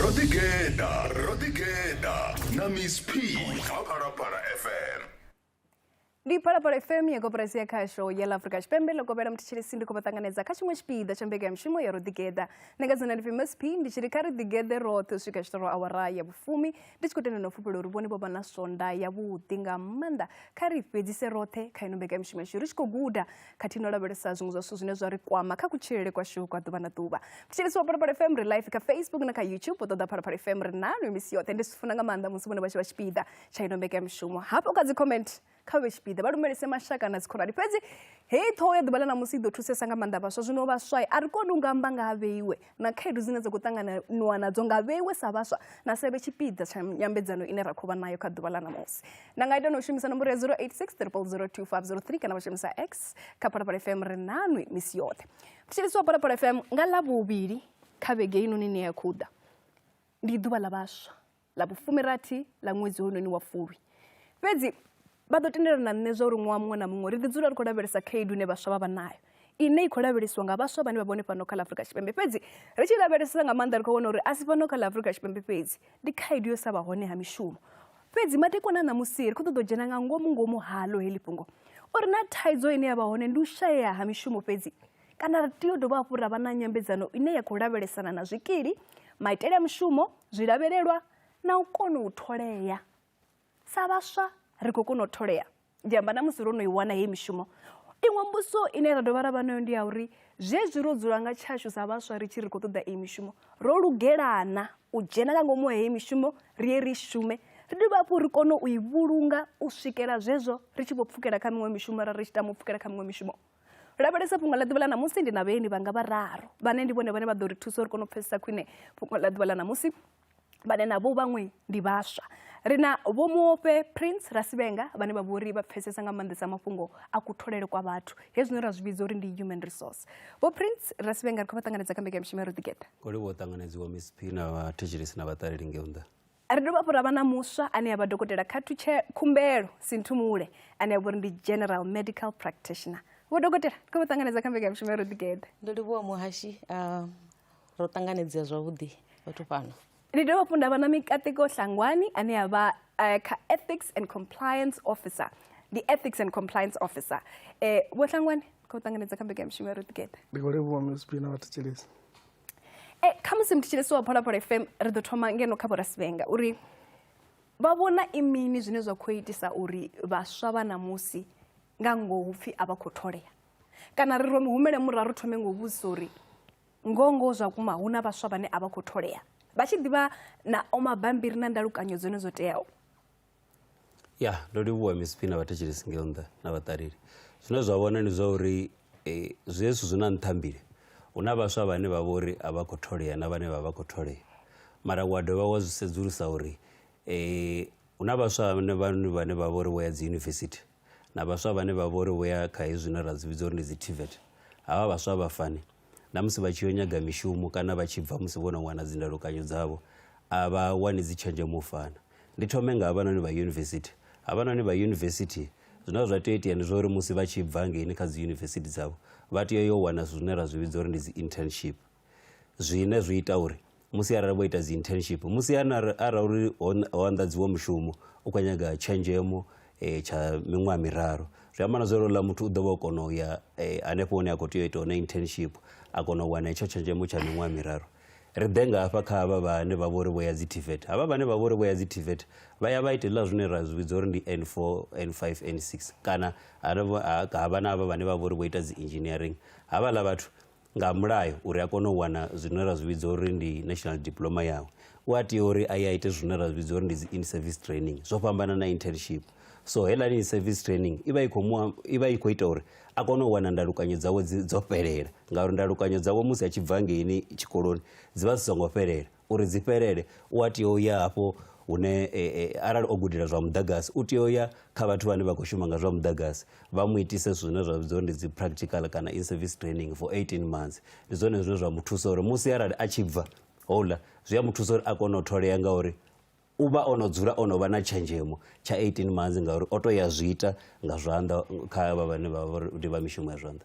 ro ḓigeḓa ro ḓigeḓa na miss p kha phalaphala fm ndi phalaphala fm ya koporasi ya khasho ya la afrika tshipembe ḽo kovhela muthetshelesi ndi khou vha ṱanganedza kha tshiṅwe tshipiḓa tsha mbekanyamushumo ya ro ḓigeḓa nṋe nga dzina ndi pfi msp ndi tshi ri kha ri ḓigeḓe roṱhe u swika tshitoro awara ya vhufumi ndi tshi khou tenda na u fhufhela uri vhone vho vha na swonda yavhuḓi nga maanḓa kha ri fhedzise roṱhe kha ino mbekanyamushumo yashu ri tshi khou guda khathihi no lavhelesa zwiṅwe zwa zwithu zwine zwa ri kwama kha kutshilele kwashu kwa ḓuvha na ḓuvha thetshelesi wa phalaphala fm ri live kha facebook na kha youtube u ṱoḓa phalaphala fm ri nalo misi yoṱhe ndi zwi funa nga maanḓa musi vhone vha tshi vha tshipiḓa tsha ino mbekanyamushumo hafho kha dzi comment kha vhe tshipiḓa vha lumelise mashaka na dzikhonani fhedzi heyi ṱhoho ya ḓuvha ḽa ṋamusi i ḓo thusesa nga maanḓa vhaswa zwino vhaswa a ri koni u nga amba nga ha vheiwe na khaedu dzine dza khou ṱanganiwa nadzo nga vheiwe sa vhaswa na sevhe tshipiḓa tsha nyambedzano ine ra khou vha nayo kha ḓuvha ḽa ṋamusi na nga ita na u shumisa nomboro ya 0863002503 kana vha shumisa x kha phalaphala fm ri nanwi misi yoṱhe mthetshelisi wa phalaphala fm nga ḽa vhuvhili kha vhege inoni ine ya khou ḓa ndi ḓuvha ḽa vhaswa ḽa vhufumirathi ḽa ṅwedzi hounoni wa fulwi fhedzi vha ḓo tendelana na nṋe zwa uri ṅwaha muṅwe na muṅwe ri ḓi dzula ri khou lavhelesa khaedu ine vhaswa vha vha nayo ine i khou lavhelesiwa nga vhaswa vhane vha vhone fhano kha ḽa afurika tshipembe fhedzi ri tshi lavhelesesa nga maanḓa ri khou vhona uri a si fhano kha ḽa afurika tshipembe fhedzi ndi khaedu yo sa vha hone ha mishumo fhedzi madekwana a ṋamusi ri khou ṱoḓa u dzhena nga ngomu ngomu halo heḽi fhungo uri na thaidzo ine ya vha hone ndi u shayea ha mishumo fhedzi Kana ri tea u dovha hafhu ra vha na nyambedzano ine ya khou lavhelesana na zwikili, maitele a mushumo, zwilavhelelwa na u kona u tholea. Sa vhaswa ri khou kona u tholea, ndi amba na musi ro no i wana heyi mishumo. Iṅwe mbudziso ine ra dovha ra vha nayo ndi ya uri zwezwi ro dzula nga tshashu sa vhaswa ri tshi ri khou ṱoḓa iyi mishumo, ro lugelana u dzhena nga ngomu ha heyi mishumo ri ye ri shume ri dovhe hafhu ri kone u i vhulunga u swikela zwezwo ri tshi vho pfukela kha miṅwe mishumo ra ri tshi tama u pfukela kha miṅwe mishumo. lavhelesa fhungo ḽa ḓuvha ḽa ṋamusi ndi na vheeni vhanga vhararu vhane ndi vhone vhane vha ḓo ri thusa uri kone u pfesesa khwine fhungo ḽa ḓuvha ḽa ṋamusi vhane navho vhaṅwe ndi vhaswa ri na vho muofhe prince rasivhenga vhane vha vhori vha pfesesa nga maanḓesa mafhungo a kutholele kwa vhathu hezwino ra zwi vhidza uri ndi human resource vho prince rasivhenga ri khou vha ṱanganedza kha mbekanyamushumo ya ro ḓigeḓa koliwo ṱanganedziwa miss p na vhathetshelesi na vhaṱaleli ngeo nnḓa Ri dovha hafhu ra vha na muswa ane a vha dokotela Khathu Khumbelo Sinthumule ane a vha uri ndi General Medical Practitioner. Vho dokotela, ri khou vha ṱanganedza kha mbekanyamushumo ya Ro Ḓigeḓa. Ndo livhuwa muhashi, ah, ro ṱanganedzea zwavhuḓi vhathu fhano. Ndi dovha hafhu nda vha na Mikateko Hlangwani ane a vha eh, kha Ethics and Compliance Officer. Ndi Ethics and Compliance Officer. Eh, Vho Hlangwani, ri khou ṱanganedza kha mbekanyamushumo ya Ro Ḓigeḓa. Ndi khou livhuwa MSB na vhathetshelesi. e eh, khamusi mthetshelesi wa pholaphola fm ri ḓo thoma ngeno kha vhorasivenga uri vha vhona i mini zwine zwa khou itisa uri vhaswa vha ṋamusi nga ngoho pfhi a vha khou tholea kana ri ro humele muraru thome ngo vhudzisa uri ngoho ngoho zwa kuma hu na vhaswa vhane a vha khou tholea vha tshi ḓivha na o mabambiri na ndalukanyo dzone dzo teaho ya ndo livhuwa miss phina vhathetshelesi ngeo nnḓa na vhaṱaleli zwine zwa vhona ndi zwa uri eh, zwi hezwi zwi na nṱhambile hu na vhaswa vhane vha vhori a vha khou tholea na vhane vha vha khou tholea mara wa dovha wa zwi sedzulusa uri eh, hu na vhaswa vhane vhane vhane vha vhori vho ya dzi yunivesithi na vhaswa vhane vha vhori vho ya kha hezwi zwine ra dzi vhidza uri ndi dzi tvet havha vhaswa vha fani na musi vha tshi yo nyaga mishumo kana vha tshi bva musi vho no wana dzindalokanyo dzavho a vha wani dzi tshenzhemo u fana ndi thome nga havhanoni vha yunivesithi havhanoni vha yunivesithi zwine zwa tea u itea ndi zwa uri musi vha tshi bva ngeini kha dzi yunivesithi dzavho vha tea yo wana zwithu zwine ra zwi vhidza uri ndi dzi internship zwine zwi ita uri musi arali vho ita dzi internship musi arali uri ho anḓadziwa mushumo u khou nyaga tshenzhemo um tsha miṅwaha miraru zwi amba na zwa uri uḽa muthu u ḓo vha o kona u ya um hanefho hune a khou tea u ita hone internship a kona u wana hetsho tshenzhemo tsha miṅwaha miraru ri ḓe nga hafha kha havha vhane vha vha uri vho ya dzi tvet havha vhane vha vha uri vho ya dzi tvet vha ya vha ita hezwiḽa zwine ra zwi vhidza uri ndi n four n five n six kana havha na havha vhane vha vha uri vho ita dzi engineering havhaḽa vhathu nga mulayo uri a kone u wana zwine ra zwi vhidza uri ndi national diploma yawe u a tea uri a ye a ite zwine ra zwi vhidza uri ndi dzi in-service training zwo fhambana na internship so heiḽani in-service training i vha i khou mu- i vha i khou ita uri a kone u wana ndalukanyo dzawe dzi- dzo fhelela ngauri ndalukanyo dzawe musi a tshi bva ngeini tshikoloni dzi vha dzi songo fhelela uri dzi fhelele u a tea u ya hafho hune e, e, arali o gudela zwa muḓagasi u tea u ya kha vhathu vhane vha khou shuma nga zwa muḓagasi vha mu itise zwithu zwine zwa vhidziwa uri ndi dzi practical kana in service training for 18 months ndi zwone zwine zwa mu thusa uri musi arali a tshi bva houḽa zwi a mu thusa uri a kone u tholea ngauri u vha o no dzula o no vha na tshenzhemo tsha 18 months ngauri o to ya zwi ita nga zwanḓa kha vha vhane vha vha uri ndi vha mishumo ya zwanḓa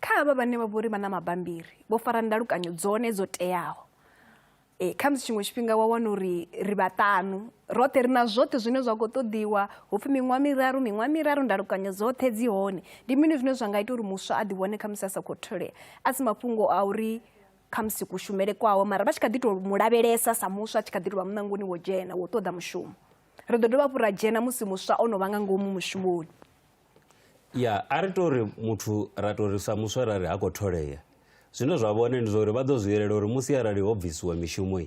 kha havha vhane vha vhori vha na mabambiri vho fara ndalukanyo dzone dzo teaho e, kha musi tshiṅwe tshifhinga wa wana uri ri vhaṱanu roṱhe ri na zwoṱhe zwine zwa khou ṱoḓiwa hu pfhi miṅwaha miraru miṅwaha miraru ndalukanyo dzoṱhe dzi hone ndi mini zwine zwa nga ita uri muswa a ḓivhone kha musi a sa khou tholea a si mafhungo a uri kha musi kushumele kwawo mara vha tshi kha ḓi tou mu lavhelesa sa muswa a tshi kha ḓi tou vha muṋangoni wo dzhena wo ṱoḓa mushumo ri ḓo dovha hafhu ra dzhena musi muswa o no vha nga ngomu mushumoni ya a ri tori muthu ra tori sa muswa ra ri ha khou tholea zwine zwa vhone ndi zwauri vha ḓo zwi yelela uri musi arali ho bvisiwa mishumo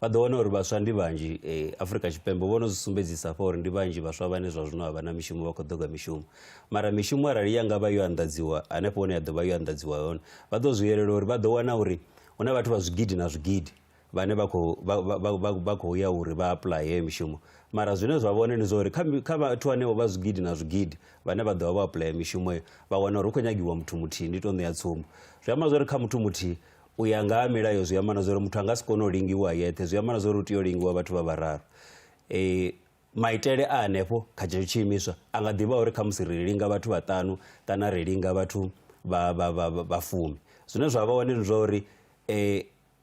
vha ḓo wana uri vhaswa ndi vhanzhi eh, afurika tshipembe vho no zwi sumbedzisa fha uri ndi vhanzhi vhaswa vhane zwa zwino a vha na mishumo vha khou ḓoga mishumo mara mishumo arali ya nga vha yo anḓadziwa hanefho hune ya ḓo vha yo anḓadziwa hone vha ḓo zwi yelela uri vha ḓo wana uri hu na vhathu vha zwigidi na zwigidi vhane vha khou vha- vha- vha- vha- vha khou ya uri vha apply heyo mishumo mara zwine zwa vhone ndi zwa uri kha mi- kha vhathu hanevho vha zwigidi na zwigidi vhane vha ḓo vha vho apply mishumo heyo vha wana uri hu khou nyagiwa muthu muthihi ndi tou ṋea tsumbo zwi amba zwa uri kha muthu muthihi u ya nga ha milayo zwi amba na zwa uri muthu a nga si kone u lingiwa a yeṱhe zwi amba na zwa uri u tea u lingiwa vhathu vha vhararu eh, maitele a hanefho kha tshetsho tshiimiswa a nga ḓivha uri khamusi ri linga vhathu vhaṱanu kana ri linga vhathu vha- vha- vha- vha- vhafumi zwine zwa vha hone ndi zwa uri eh,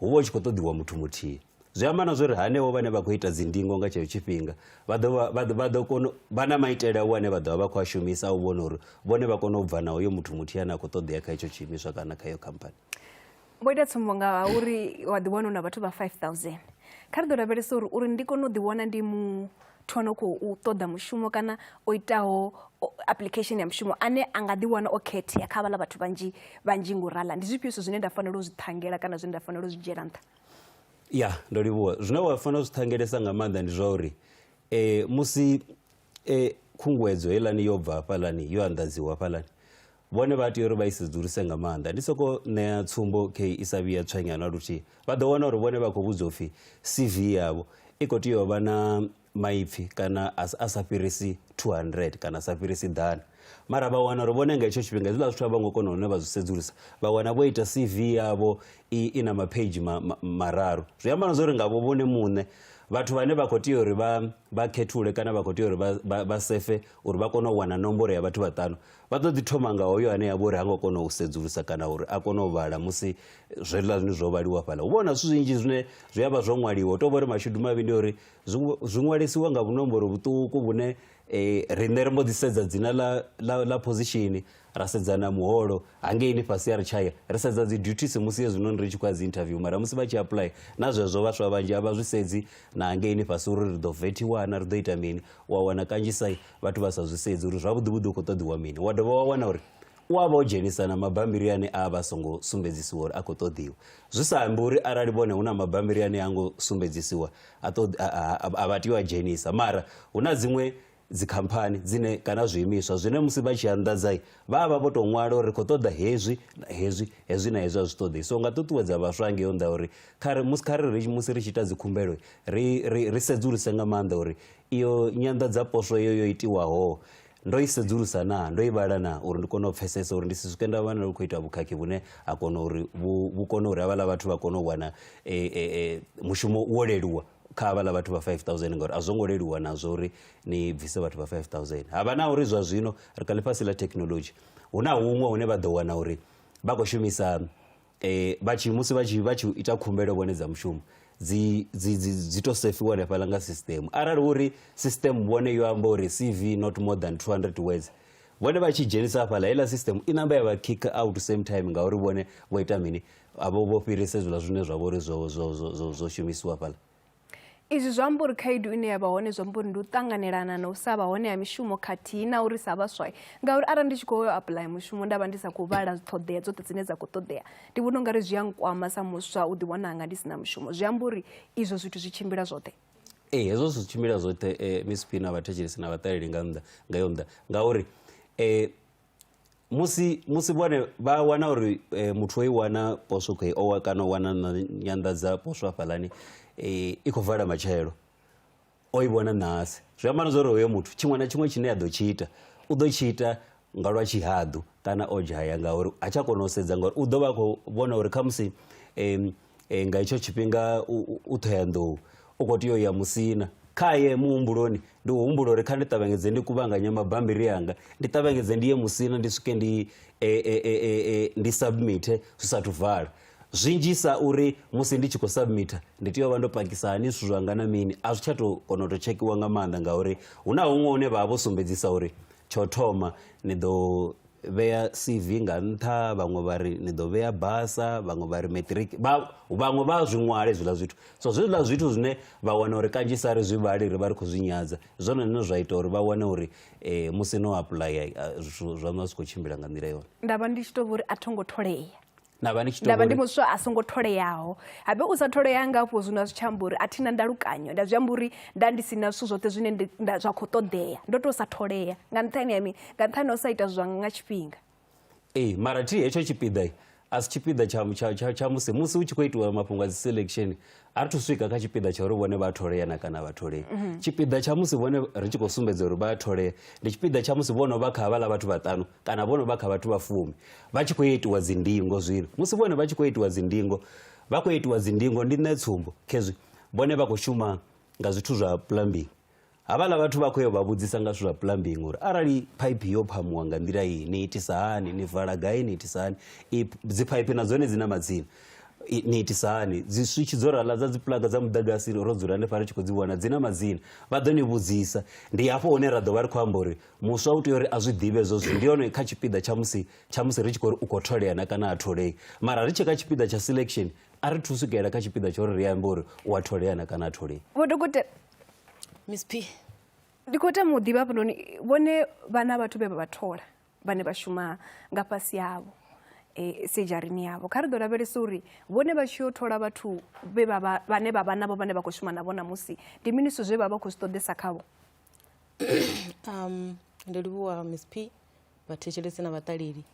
hu vha hu tshi khou ṱoḓiwa muthu muthihi zwi amba na zwori hanevho vhane vha khou ita dzindingo nga tsheo tshifhinga vha ḓo kona vha na maitele a vhane vha ḓovha vha khou a shumisa u vhona uri vhone vha kone u bva na hoyo muthu muthihi ane a khou ṱoḓea kha hetsho tshiimiswa kana kha iyo khamphani vho ita tsumbo nga uri wa ḓiwana u na vhathu vha 5000 kha ri ḓo lavhelesa uri uri ndi kone u ḓiwana ndi mu o no khou ṱoḓa mushumo kana o itaho application ya mushumo ane a nga ḓiwana o khethea kha vhala vhathu vhanzhi vhanzhi ngo rala ndi zwifhio zwithu zwine nda fanela u zwi ṱhangela kana zwine nda fanela u zwi dzhiela nṱha ya ndo livhuwa zwine wa fanela u zwi ṱhangelesa nga maanḓa ndi zwa uri um musi um khunguwedzo heiḽani yo bva hafhaḽani yo anḓadziwa hafhaḽani vhone vha tea uri vha i sedzuluse nga maanḓa ndi soko ṋea tsumbo khe i sa vhiya tswenya na luthihi vha ḓo wana uri vhone vha khou vhudzwa upfhi cv yavho i khou tea u vha na maipfhi kana a sa fhirisi 200 kana a sa fhirisi ḓana mara vha wana uri vhone nga hetsho tshifhinga hezwiḽa zwithu a vho ngo kona hune vha zwi sedzulusa vha wana vho ita cv yavho i, i na maphage ma, ma, mararu zwi amba na zwa uri ngavho vhone muṋe vhathu vhane vha khou tea uri vha, vha khethule kana vha khou tea uri vha, vha, vha sefe uri vha kone u wana nomboro ya vhathu vhaṱanu Vha ḓo ḓi thoma nga hoyo ane a vha uri ha ngo kona u sedzulusa kana uri a kone u vhala musi zwiḽa zwine zwo vhaliwa fhala hu vha na zwithu zwinzhi zwine zwi a vha zwo ṅwaliwa u tou vha uri mashudu mavhi ndi uri zwi ṅwalisiwa nga vhunomboro vhuṱuku vhune um eh, riṋe ri mbo ḓi sedza dzina ḽa phosishini ra sedza na muholo hangeini fhasi ya ri tshaya ri sedza dzi duties musi hezwinoni ri tshi khou ya dzi interview mara musi vha tshi apply na zwezwo vhaswa vhanzhi a vha zwi sedzi na hangeini fhasi uri ri ḓo vethiwana ri ḓo ita mini u a wana kanzhisa vhathu vha sa zwi sedzi uri zwavhuḓi vhuḓi u khou ṱoḓiwa mini wa dovha wa wana uri u a vha o dzhenisa na mabambiri ane a vha songo sumbedzisiwa uri a khou ṱoḓiwa zwi sa ambi uri arali vhone hu na mabambiri ane a ngo sumbedzisiwa a vha tea u a dzhenisa mara hu na dziṅwe dzikhamphani dzine kana zwiimiswa zwine musi vha tshi anḓadzai vha a vha vho tou ṅwala uri ri khou ṱoḓa hezwi na hezwi hezwi na hezwi a zwi ṱoḓei so nga ṱuṱuwedza vhaswa ngeyo nḓa uri musi kha ri musi ri tshi ita dzikhumbelo ri sedzuluse nga maanḓa uri Iyo nyanḓadzaposwo yo yo itiwaho ndo i sedzulusa naa ndo i vhala naa uri ndi kone u pfesesa uri ndi si swike nda vhana lu khou ita vhukhakhi vhune ha kona uri vhu kone uri havhaḽa vhathu vha kone u wana e, e, e, mushumo wo leluwa kha havhaḽa vhathu vha 5000 ngauri a zwo ngo leluwa nazwo uri ni bvise vhathu vha 5000 ha vha na uri zwa zwino ri kha ḽifhasi ḽa thekhinolodzhi hu na huṅwe hune vha ḓo wana uri vha khou shumisa eh vha tshi musi vha tshi vha tshi ita khumbelo vhone dza mushumo dzi dzi dzi dzi to sefiwa hanefhaḽa nga system arali uri system vhone yo amba uri cv not more than 200 words vhone vha tshi dzhenisa hafhaḽa heiḽa system i namba ya vha kick out same time ngauri vhone vho ita mini avho vho fhirisa hezwiḽa zwine zwa vha uri zwo zwo zwo zwo shumisiwa hafhaḽa Izwi zwi amba uri khaedu ine ya vha hone zwi amba uri ndi u ṱanganelana na u sa vha hone ha mishumo khathihi na uri sa vhaswa ngauri arali ndi tshi khou yo apuḽaya mushumo nda vha ndi sa khou vhala ṱhoḓea dzoṱhe dzine dza khou ṱoḓea ndi vhona u nga ri zwi a nkwama sa muswa u ḓiwana hanga ndi si na mushumo zwi amba uri izwo zwithu zwi tshimbila zwoṱhe ee hezwo zwi tshimbila zwoṱhe um miss pina vhathetshelesi na vhaṱaleli nga nnḓa nga yo nnḓa ngauri um musi musi vhone vha wana uri eh, muthu o i wana poswo khou owa kana o wana nyanḓadza poswo hafhaḽani eh, i khou vala matshelo o i vhona ṋahasi zwi amba na zwa uri hoyo muthu tshiṅwe na tshiṅwe tshine a ḓo tshi ita u ḓo tshi ita nga lwa tshihaḓu kana o dzhaya ngauri ha tsha kona u sedza ngauri u ḓo vha a khou vhona uri khamusi um e, nga itsho tshifhinga u ṱhoyanḓou u khou tea u ya musina khaye muhumbuloni ndi humbula uri kha ndi ṱavhanyedze ndi kuvhanganya mabambiri anga ndi ṱavhanyedze ndi ye musina ndi swike ndi e, e, e, e, e ndi submite zwi sathu vala zwinzhisa uri musi ndi tshi khou submita ndi tea u vha ndo pakisa hani zwithu zwanga na mini a zwi tsha to kona u to tshekhiwa nga maanḓa ngauri hu na huṅwe hune vha vha vho sumbedzisa uri tsho thoma ni ḓo vhea CV nga nṱha vhaṅwe vha ri ni ḓo vhea basa vhaṅwe vha ri matric vhaṅwe vha zwi ṅwale zwiḽa zwithu so zwiḽa zwithu zwine vha wana uri kanzhisa ri zwi vhali ri vha ri khou zwi nyadza zwone zwine zwa ita uri vha wane uri eh, musi no apuḽaya eh, zwithu zwaṋu a zwi khou tshimbila nga nḓila yone nda vha ndi tshi tou vha uri a tho ngo tholea nda vha ndi muswa a songo tholeaho habe u sa tholea nga afho zwino a zwi tshi amba uri a thi na ndalukanyo nda zwi amba uri nda ndi si na zwithu zwoṱhe zwine zwa khou ṱoḓea ndo tou sa tholea nga nṱhani ha mini nga nṱhani ha u sa ita zwanga nga tshifhinga ee mara thi hetsho tshipiḓa a si tshipiḓa tsha musi musi hu tshi khou itiwa mafhungo a dzi selection a ri thu swika kha tshipiḓa tsha uri vhone vha tholea na kana vha tholei mhm. tshipiḓa tsha musi vhone ri tshi khou sumbedza uri vha tholea ndi tshipiḓa tsha musi vhono vha kha havhaḽa vhathu vhaṱanu kana vhono vha kha vhathu vha fumi vha tshi khou itiwa dzindingo zwino musi vhone vha tshi khou itiwa dzindingo vha khou itiwa dzindingo ndi nṋe tsumbo khezwi vhone vha khou shuma nga zwithu zwa plumbing Havhala vhathu vha khou ya u vha vhudzisa nga zwithu zwa plumbing uri arali phaiphi yo phamuwa nga nḓila iyi ni itisa hani ni vala gai ni itisa hani dzi phaiphi na dzone dzi na madzina ni itisa hani dzi switch dzo rala dza dzi plug dza muḓagasi ro dzula hanefha ri tshi khou dzi vhona dzi na madzina vha ḓo ni vhudzisa ndi hafho hune ra ḓo vha ri khou amba uri muswa u tea uri a zwi ḓivhe zwo zwithu ndi hone kha tshipiḓa tsha musi tsha musi ri tshi khou ri u khou tholea na kana a tholei mara ri tshi kha tshipiḓa tsha selection a ri thu swikelela kha tshipiḓa tsha uri ri ambe uri u a tholea na kana a tholei miss p ndi khou tama u ḓivha hafhanoni vhone vhana vhathu vhe vha vha thola vhane vha shuma nga fhasi yavho e, sejarini yavho kha ri ḓo lavhelesa uri vhone vha tshi yo thola vhathu vhe vha vha- vhane vha vha navho vhane vha khou shuma navho namusi ndi mini zwithu zwe vha vha khou zwi ṱoḓesa khavho um ndo livhuwa miss p vhathetshelesi na vhaṱaleli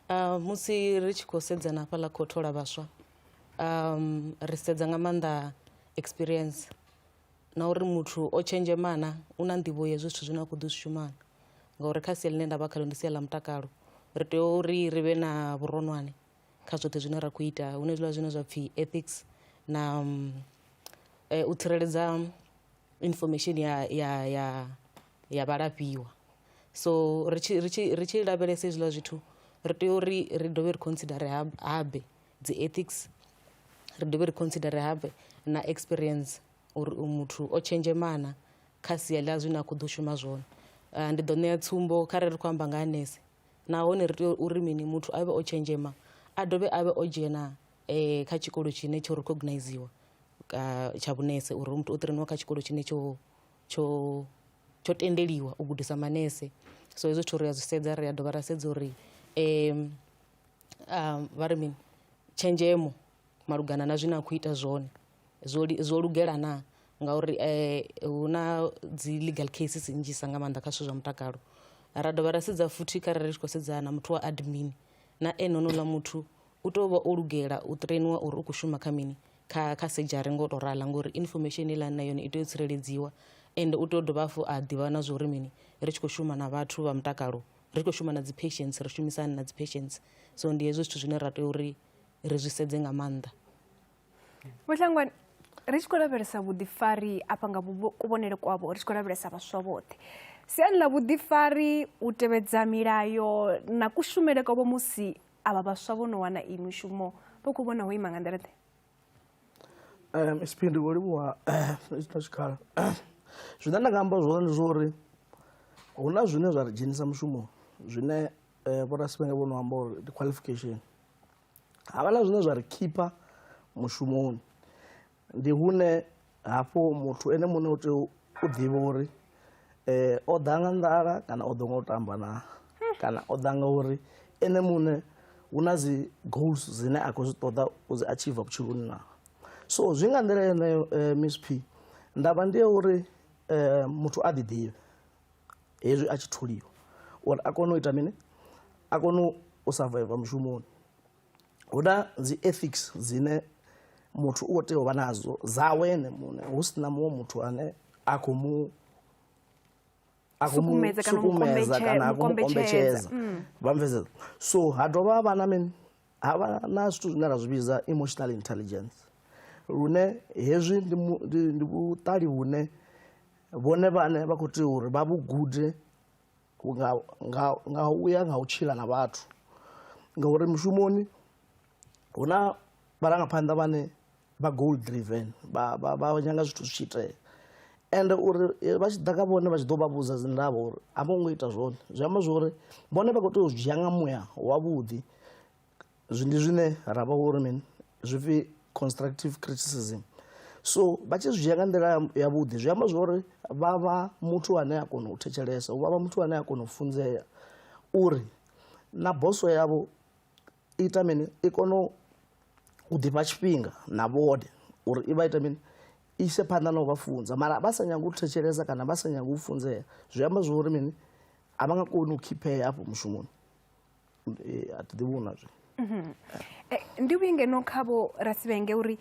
uh, musi ri tshi khou sedzana hafhaḽa khou thola vhaswa um, ri sedza nga maanḓa experience na uri muthu o tshenzhema na u na nḓivho ya zwithu zwine a khou ḓi zwi shuma na ngauri kha sia ḽine nda vha khalo ndi sia ḽa mutakalo ri tea uri ri vhe na vhuronwane kha zwoṱhe zwine ra khou ita hune zwiḽa zwine zwa pfhi ethics na mm, eh, u tsireledza information ya ya ya ya vhalafhiwa so ri tshi ri tshi ri tshi lavhelesa hezwiḽa zwithu ri tea uri ri dovhe ri considere habe dzi ethics ri dovhe ri consider have na experience uri u muthu o tshenzhemana kha sia ḽa zwine a khou ḓo shuma zwone ah, ndi ḓo ṋea tsumbo kha re ri khou amba nga ha nese nahone ri tea uri mini muthu a vhe o tshenzhema a dovhe a vhe o dzhena um kha tshikolo tshine tsho recogniziwa ah, tsha vhunese uri muthu o ṱireniwa kha tshikolo tshine tsho tsho tsho tendeliwa u gudisa manese so hezwo zwithu ri a zwi sedza ri a dovha ra sedza uri um vha ri mini tshenzhemo malugana na zwine a khou ita zwone zwo zwo lugela na ngauri hu na dzi legal cases nnzhisa nga maanḓa kha zwithu zwa mutakalo ra dovha ra sedza futhi kha rali ri tshi khou sedzana na muthu wa admin na ene honouḽa muthu u tea u vha o lugela u trainiwa uri u khou shuma kha mini kha kha sedzhari ngo to rala ngori information heiḽani na yone i tea u tsireledziwa ende u tea u dovha hafhu a ḓivha na zwa uri mini ri tshi khou shuma na vhathu vha mutakalo ri khou shuma na dzi patients ri shumisa hani na dzi patients so ndi hezwo zwithu zwine ra tea uri ri zwi sedze nga maanḓa vhuhlangwani ri tshi khou lavhelesa vhuḓifari afha nga kuvhonele kwavho ri tshi khou lavhelesa vhaswa vhoṱhe siani ḽa vhuḓifari u tevhedza milayo na kushumele kwavho musi avha vhaswa vho no wana iyi mishumo vho khou vhona ho ima nga nḓila ḓe um isipindi vho livhuwa na tshikhala zwine nda nga amba zwone ndi zwa uri hu na zwine zwa ri dzhenisa mushumo zwine um vhorasivhenge vho no amba uri ndi qualification havha na zwine zwa ri khipha mushumoni ndi hune Hafho muthu ene muṋe u tea u ḓivha uri o ḓa nga nḓala kana o ḓa nga u tamba naa kana o ḓa nga uri ene muṋe hu na dzi goals dzine a khou zwi ṱoḓa u dzi achiever vhutshiloni naa. So zwi nga nḓila yeneyo Miss Phi, ndavha ndi ya uri muthu a ḓi ḓivhe hezwi a tshi tholiwa uri a kone u ita mini, a kone u surviver mushumoni. hu na dzi ethics dzine muthu u khou tea u vha nadzo dzawe ene muṋe hu si na muṅwe muthu ane a khou mu sukumedza kana a khou mu kombetshedza mm. vha mveseza so ha dovha ha vha na mini ha vha na zwithu zwine ra zwi vhidza emotional intelligence lune hezwi ndi vhuṱali vhune vhone vhane vha khou tea uri vha vhu gude nga, nga, nga u ya nga u tshila na vhathu ngauri mushumoni hu na vharangaphanḓa vhane vha goal driven vha, vha, vha nyanga zwithu zwi tshi itea ende uri eh, vha tshi ḓa kha vhone vha tshi ḓo vha vhudza dzindavha uri a vho ngo ita zwone zwi amba zwori vhone vha khou tea u zwi dzhia nga muya wavhuḓi zwi ndi zwine ra vha uri mini zwi pfi constructive criticism so vha tshi zwi dzhia nga nḓila yavhuḓi zwi amba zwori vha vha muthu ane a kona u thetshelesa vha vha muthu ane a kona u funzea uri na boso yavho ita mini i kone u ḓifha tshifhinga na vhone uri i vha ita mini ise phanḓa na u vha funza mara vha sa nyanga u thetshelesa kana vha sa nyanga u funzea zwi amba zwori mini a vha nga koni u khiphea afho mushumoni eh, a thi ḓivhi hu na zwe mhm. eh, ndi vhuyi ngeno khavho rasivhenge uri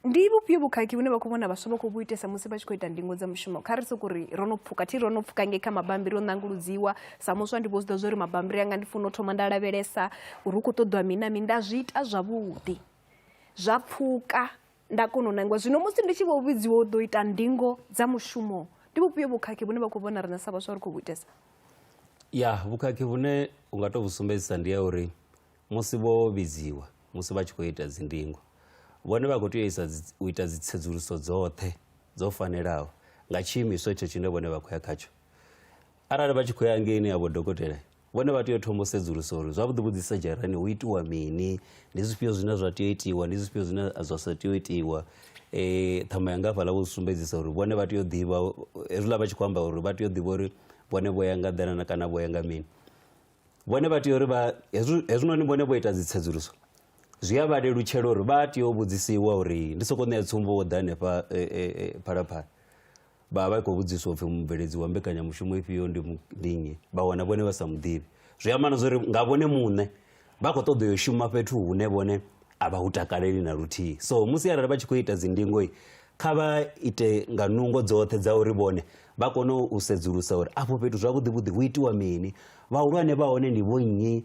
ndi vhufhio vhukhakhi vhune vha khou vhona vhaswa vha khou vhu itesa musi vha tshi khou ita ndingo dza mushumo kha ri soko ri ro no pfuka thi ro no pfuka ngei kha mabambiri o ṋanguludziwa sa muswa ndi vho zwi ḓa zwa uri mabambiri anga ndi funa u thoma nda lavhelesa uri hu khou ṱoḓiwa mina mi nda zwi ita zwavhuḓi zwa pfuka nda kona u nangiwa zwino musi ndi tshi vho vhidziwa u ḓo ita ndingo dza mushumo ndi vhufhio vhukhakhi vhune vha khou vhona riṋe sa vhaswa ri khou vhu itesa ya vhukhakhi vhune u nga tou vhu sumbedzisa ndi ya uri musi vho vhidziwa musi vha tshi khou ita dzindingo vhone vha khou tea isa u ita dzitsedzuluso dzoṱhe dzo fanelaho nga tshiimiswa etsho tshine vhone vha khou ya khatsho arali vha tshi khou ya ngeini ya vhodokotela vhone vha tea u thoma u sedzulusa uri zwavhuḓi vhuḓi sa dzharani hu itiwa mini ndi zwifhio zwine zwa tea u itiwa ndi zwifhio zwine zwa sa tea u itiwa um ṱhama yanga hafhaḽa vho zwi sumbedzisa uri vhone vha tea u ḓivha hezwiḽa vha tshi khou amba uri vha tea u ḓivha uri vhone vho ya nga ḓelana kana vho ya nga mini vhone vha tea uri vha hezwinoni vhone vho ita dzi tsedzuluso zwi a vha lelutshela uri vha tea u vhudzisiwa uri ndi sokou ṋea tsumbo wo ḓa hanefha eh, eh, eh, phalaphala vha vha i khou vhudziswa upfhi mubveledzi wa mbekanyamushumo ifhio ndi ndinyi vha wana vhone vha sa muḓivhi zwi amba na zwa uri nga vhone muṋe vha khou ṱoḓa yo shuma fhethu hune vhone a vha hu takaleli na luthihi so musi arali vha tshi khou ita dzindingoi kha vha ite nga nungo dzoṱhe dza uri vhone vha kone u sedzulusa uri afho fhethu zwavhuḓivhuḓi hu itiwa mini vhahulwane vha hone ndi vho nnyi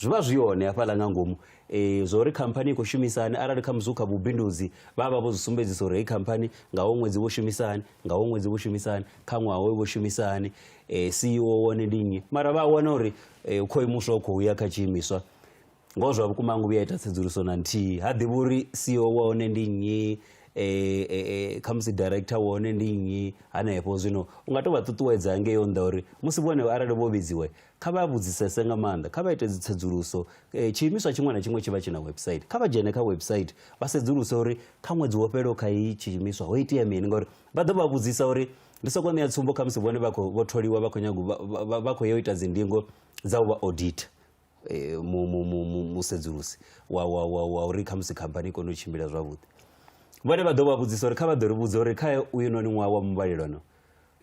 Zwi vha zwi hone hafhaḽa nga ngomu e, zwa uri khamphani i khou shumisa hani arali kha musi hu kha vhubindudzi vha vha vho zwi sumbedzisa uri heyi khamphani nga ho ṅwedzi vho shumisa hani nga ho ṅwedzi vho shumisa hani kha ṅwaha hoyo vho shumisa hani e, eh, CEO wone ndi nnyi mara vha wana uri e, u khou imuswa u khou ya kha tshiimiswa ngoho zwa vhukuma ngo vhuya ita tsedzuluso na nthihi ha ḓivhi uri CEO wa hone ndi nnyi eh, eh, eh, khamusi director wa hone ndi nnyi hanefho zwino u nga to vha ṱuṱuwedza ngeyo nnḓa uri musi vhone arali vho vhidziwe Kha vha vhudzisese nga maanḓa, kha vha ite dzitsedzuluso. E, tshiimiswa tshiṅwe na tshiṅwe tshi vha tshi na website. Kha vha dzhene kha website vha sedzuluse uri kha ṅwedzi wo fhelaho kha iyi tshiimiswa ho itea mini ngauri vha ḓo vha vhudzisa uri ndi soko ṋea tsumbo khamusi vhone vha khou vho tholiwa vha khou nyago vha- vha- vha- vha khou ya u ita dzindingo dza u vha audita eh, mu- mu- mu- mu- musedzulusi wa wa- wa- wa uri khamusi khamphani i kone u tshimbila zwavhuḓi vhone vha ḓo vha vhudzisa uri kha vha ḓo ri vhudza uri kha uyunoni ṅwaha wa muvhalelano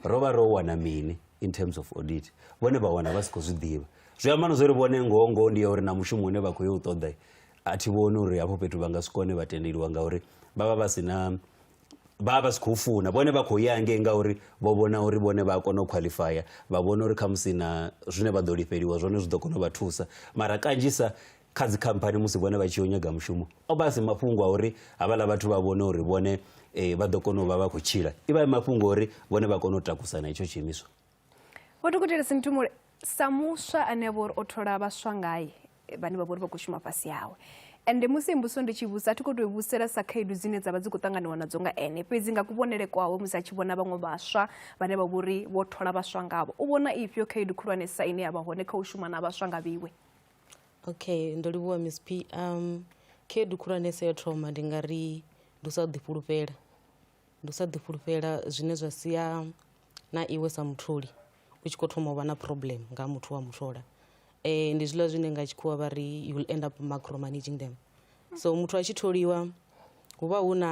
ro vha ro wana mini in terms of audit vhone vha wana vha si khou zwi ḓivha zwi amba no zwo ri vhone ngoho ngoho ndi ya uri na mushumo une vha khou yo u ṱoḓa a thi vhoni uri hafho fhethu vha nga si kone vha tendeliwa ngauri vha vha vha si na vha vha vha si khou funa vhone vha khou ya hangei ngauri vho vhona uri vhone vha a kona u khwaḽifaya vha vhona uri khamusi na zwine vha ḓo lifheliwa zwone zwi ḓo kona u vha thusa mara kanzhisa kha dzikhamphani musi vhone vha tshi yo nyaga mushumo o vha a si mafhungo a uri havhaḽa vhathu vha vhone uri vhone eh, vha ḓo kona u vha vha khou tshila i vha i mafhungo uri vhone vha kone u takusana itsho tshiimiswa vho dokotela sinthumule sa muswa ane a vha uri o thola vhaswa ngae vhane vha vha uri vha khou shuma fhasi hawe ende musi mbuso ndi tshi vhusa a thi khou tou vhusela sa khaedu dzine dza vha dzi khou ṱanganiwa nadzo nga ene fhedzi nga kuvhonele kwawe musi a tshi vhona vhaṅwe vhaswa vhane vha vha uri vho thola vhaswa ngavho u vhona ifhio khaedu khulwanesa ine ya vha hone kha u shuma na vhaswa nga vhiwe okay ndo livhuwa miss p um khaedu khulwanesa yo thoma ndi nga ri ndi u sa ḓifhulufhela ndi u sa ḓifhulufhela zwine zwa sia na iwe sa mutholi u tshi khou thoma u vha na problem nga muthu wa muthola um ndi zwiḽa zwine nga tshikhuwa vha ri you will end up macro managing them so muthu a tshi tholiwa hu vha hu na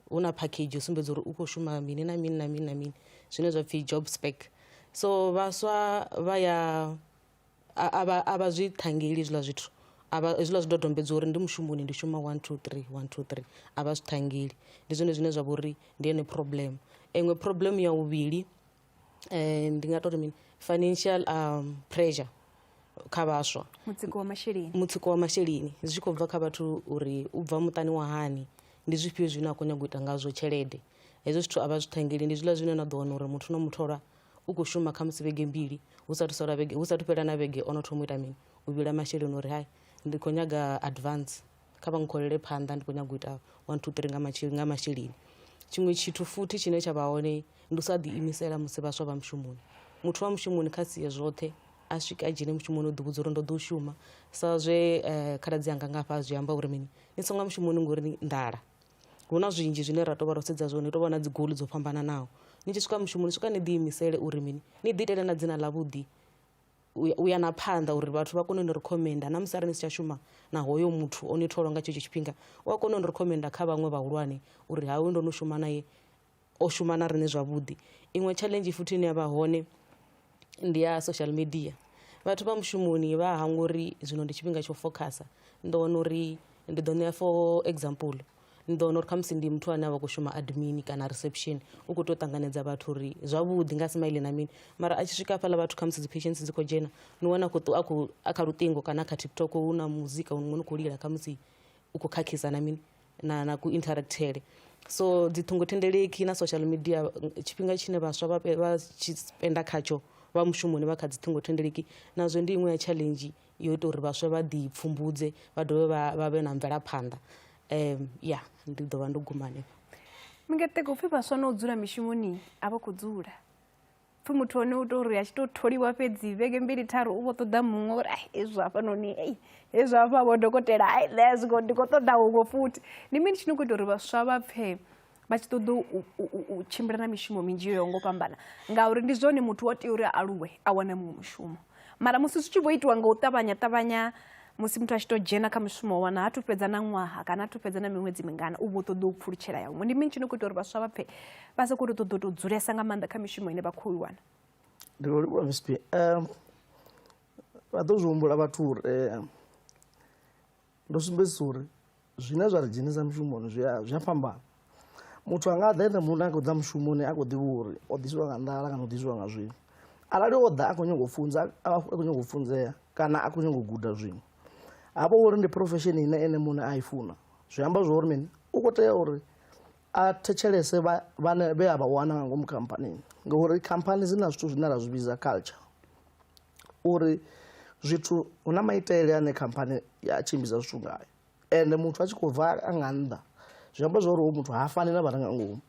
hu na package yo sumbedza uri u khou shuma mini na mini na mini na mini zwine zwa pfhi job spec so vhaswa vha ya a vha a vha zwi ṱhangeli hezwiḽa zwithu a vha hezwiḽa zwidodombedzwa uri ndi mushumoni ndi shuma one two three one two three a vha zwi ṱhangeli ndi zwone zwine zwa vha uri ndi yone problem iṅwe problem ya vhuvhili um ndi nga tori mini financial um pressure kha vhaswa mutsiko wa masheleni mutsiko wa masheleni zwi tshi khou bva kha vhathu uri u bva muṱani wa hani ndi zwifhio zwine a khou nyanga u ita ngazwo tshelede hezwo zwithu a vha zwi ṱhangeli ndi zwiḽa zwine na ḓo wana uri muthu no muthola u khou shuma kha musi vhege mbili hu sathu sala vhege hu sathu fhela na vhege ono thoma u ita mini u vhila masheleni uri hai ndi khou nyaga advance kha vha ngikholele phanḓa ndi khou nyaga u ita one two three nga masheleni nga masheleni tshiṅwe tshithu futhi tshine tsha vha hone ndi u sa ḓiimisela musi vhaswa vha mushumoni muthu wa mushumoni kha sie zwoṱhe a swika a dzhene mushumoni o ḓivhudza uri ndo ḓo shuma sa zwe um khaladzi anga ngafha a zwi amba uri mini ni songa mushumoni ngori nḓala hu na zwinzhi zwine ra tou vha ro sedza zwone hu tou vha na dzi goli dzo fhambananaho ni tshi swika mushumo ni swika ni ḓi imisele uri mini ni ḓi itele na dzina ḽa vhuḓi u ya na phanḓa uri vhathu vha kone u ni recommenda na musi arali ni si tsha shuma na hoyo muthu o ni tholwa nga tshetsho tshifhinga u a kona u ni recommenda kha vhaṅwe vhahulwane uri hawe ndo no shuma naye o shuma na riṋe zwavhuḓi. Iṅwe tshaḽenzhi futhi ine ya vha hone ndi ya social media vhathu vha mushumoni vha hangwa uri zwino ndi tshifhinga tsho fokhasa ni ḓo wana uri ndi ḓo ṋea for example ni ḓo wana uri khamusi ndi muthu ane a vha khou shuma admin kana reception u khou tea u ṱanganedza vhathu uri zwavhuḓi nga smile na mini mara a tshi swika hafhaḽa vhathu khamusi dzi patients dzi khou dzhena ni wana khou a khou a kha luṱingo kana kha tiktok hu na muzika muṅwe ni khou lila khamusi u khou khakhisa na mini na, na ku interactele so dzi ṱhingothendeleki na social media tshifhinga tshine vhaswa vha pe- vha tshi spenda khatsho vha mushumoni vha kha dzi ṱhingothendeleki nazwo ndi iṅwe ya challenge yo ita uri vhaswa vha ḓi pfumbudze vha dovhe vha vha vhe na mvelaphanḓa um ya ndi ḓo vha ndo guma hanefho mingeteko upfhi vhaswa na u dzula mishumoni a vha khou dzula pfhi muthu one u tou ri a tshi tou tholiwa fhedzi vhege mbili tharu u vho ṱoḓa muṅwe uri ai hezwi hafhanoni ei hezwi hafha vho dokotela ai nṋe a zwingo ndi khou ṱoḓa huṅwe futhi ndi mini tshi no khou ita uri vhaswa vha pfhe vha tshi ṱoḓa u tshimbila na mishumo minzhi yo yaho ngo fhambana ngauri ndi zwone muthu wa tea uri a aluwe a wane muṅwe mushumo mara musi zwi tshi vho itiwa nga u ṱavhanya ṱavhanya musi muthu a tshi tou dzhena kha mushumo wa wana ha thu fhedza na ṅwaha kana ha thu fhedza na miṅwedzi mingana u vho ṱoḓa u pfulutshela ya huṅwe ndi mini tshi no khou ita uri vhaswa vha pfhe vha sa khou tou ṱoḓa u tou dzulesa nga maanḓa kha mishumo ine vha khou i wana ndi lwo livhuwa msp vha ḓo zwi humbula vhathu uri Ndo sumbedzisa uri zwine zwa ri dzhenisa mushumoni zwi a zwi a fhambana. Muthu a nga ḓa ene muṋe a khou ḓa mushumoni a khou ḓivha uri o ḓisiwa nga nḓala kana o ḓisiwa nga zwiṅwe. Arali o ḓa a khou nyanga u funza a a khou nyanga u funzea kana a khou nyanga u guda zwiṅwe ha vha uri ndi profesheni ine ene muṋe a i funa zwi amba zwa uri mini u khou tea uri a thetshelese vha vhane vhe a vha wana nga ngomu khamphanini ngauri khamphani dzi na zwithu zwine ra zwi vhidza culture. uri zwithu hu na maitele ane khamphani ya tshimbidza zwithu ngayo ende muthu a tshi khou bva a nga nnḓa zwi amba zwa uri hoyu muthu ha fani na vha re nga ngomu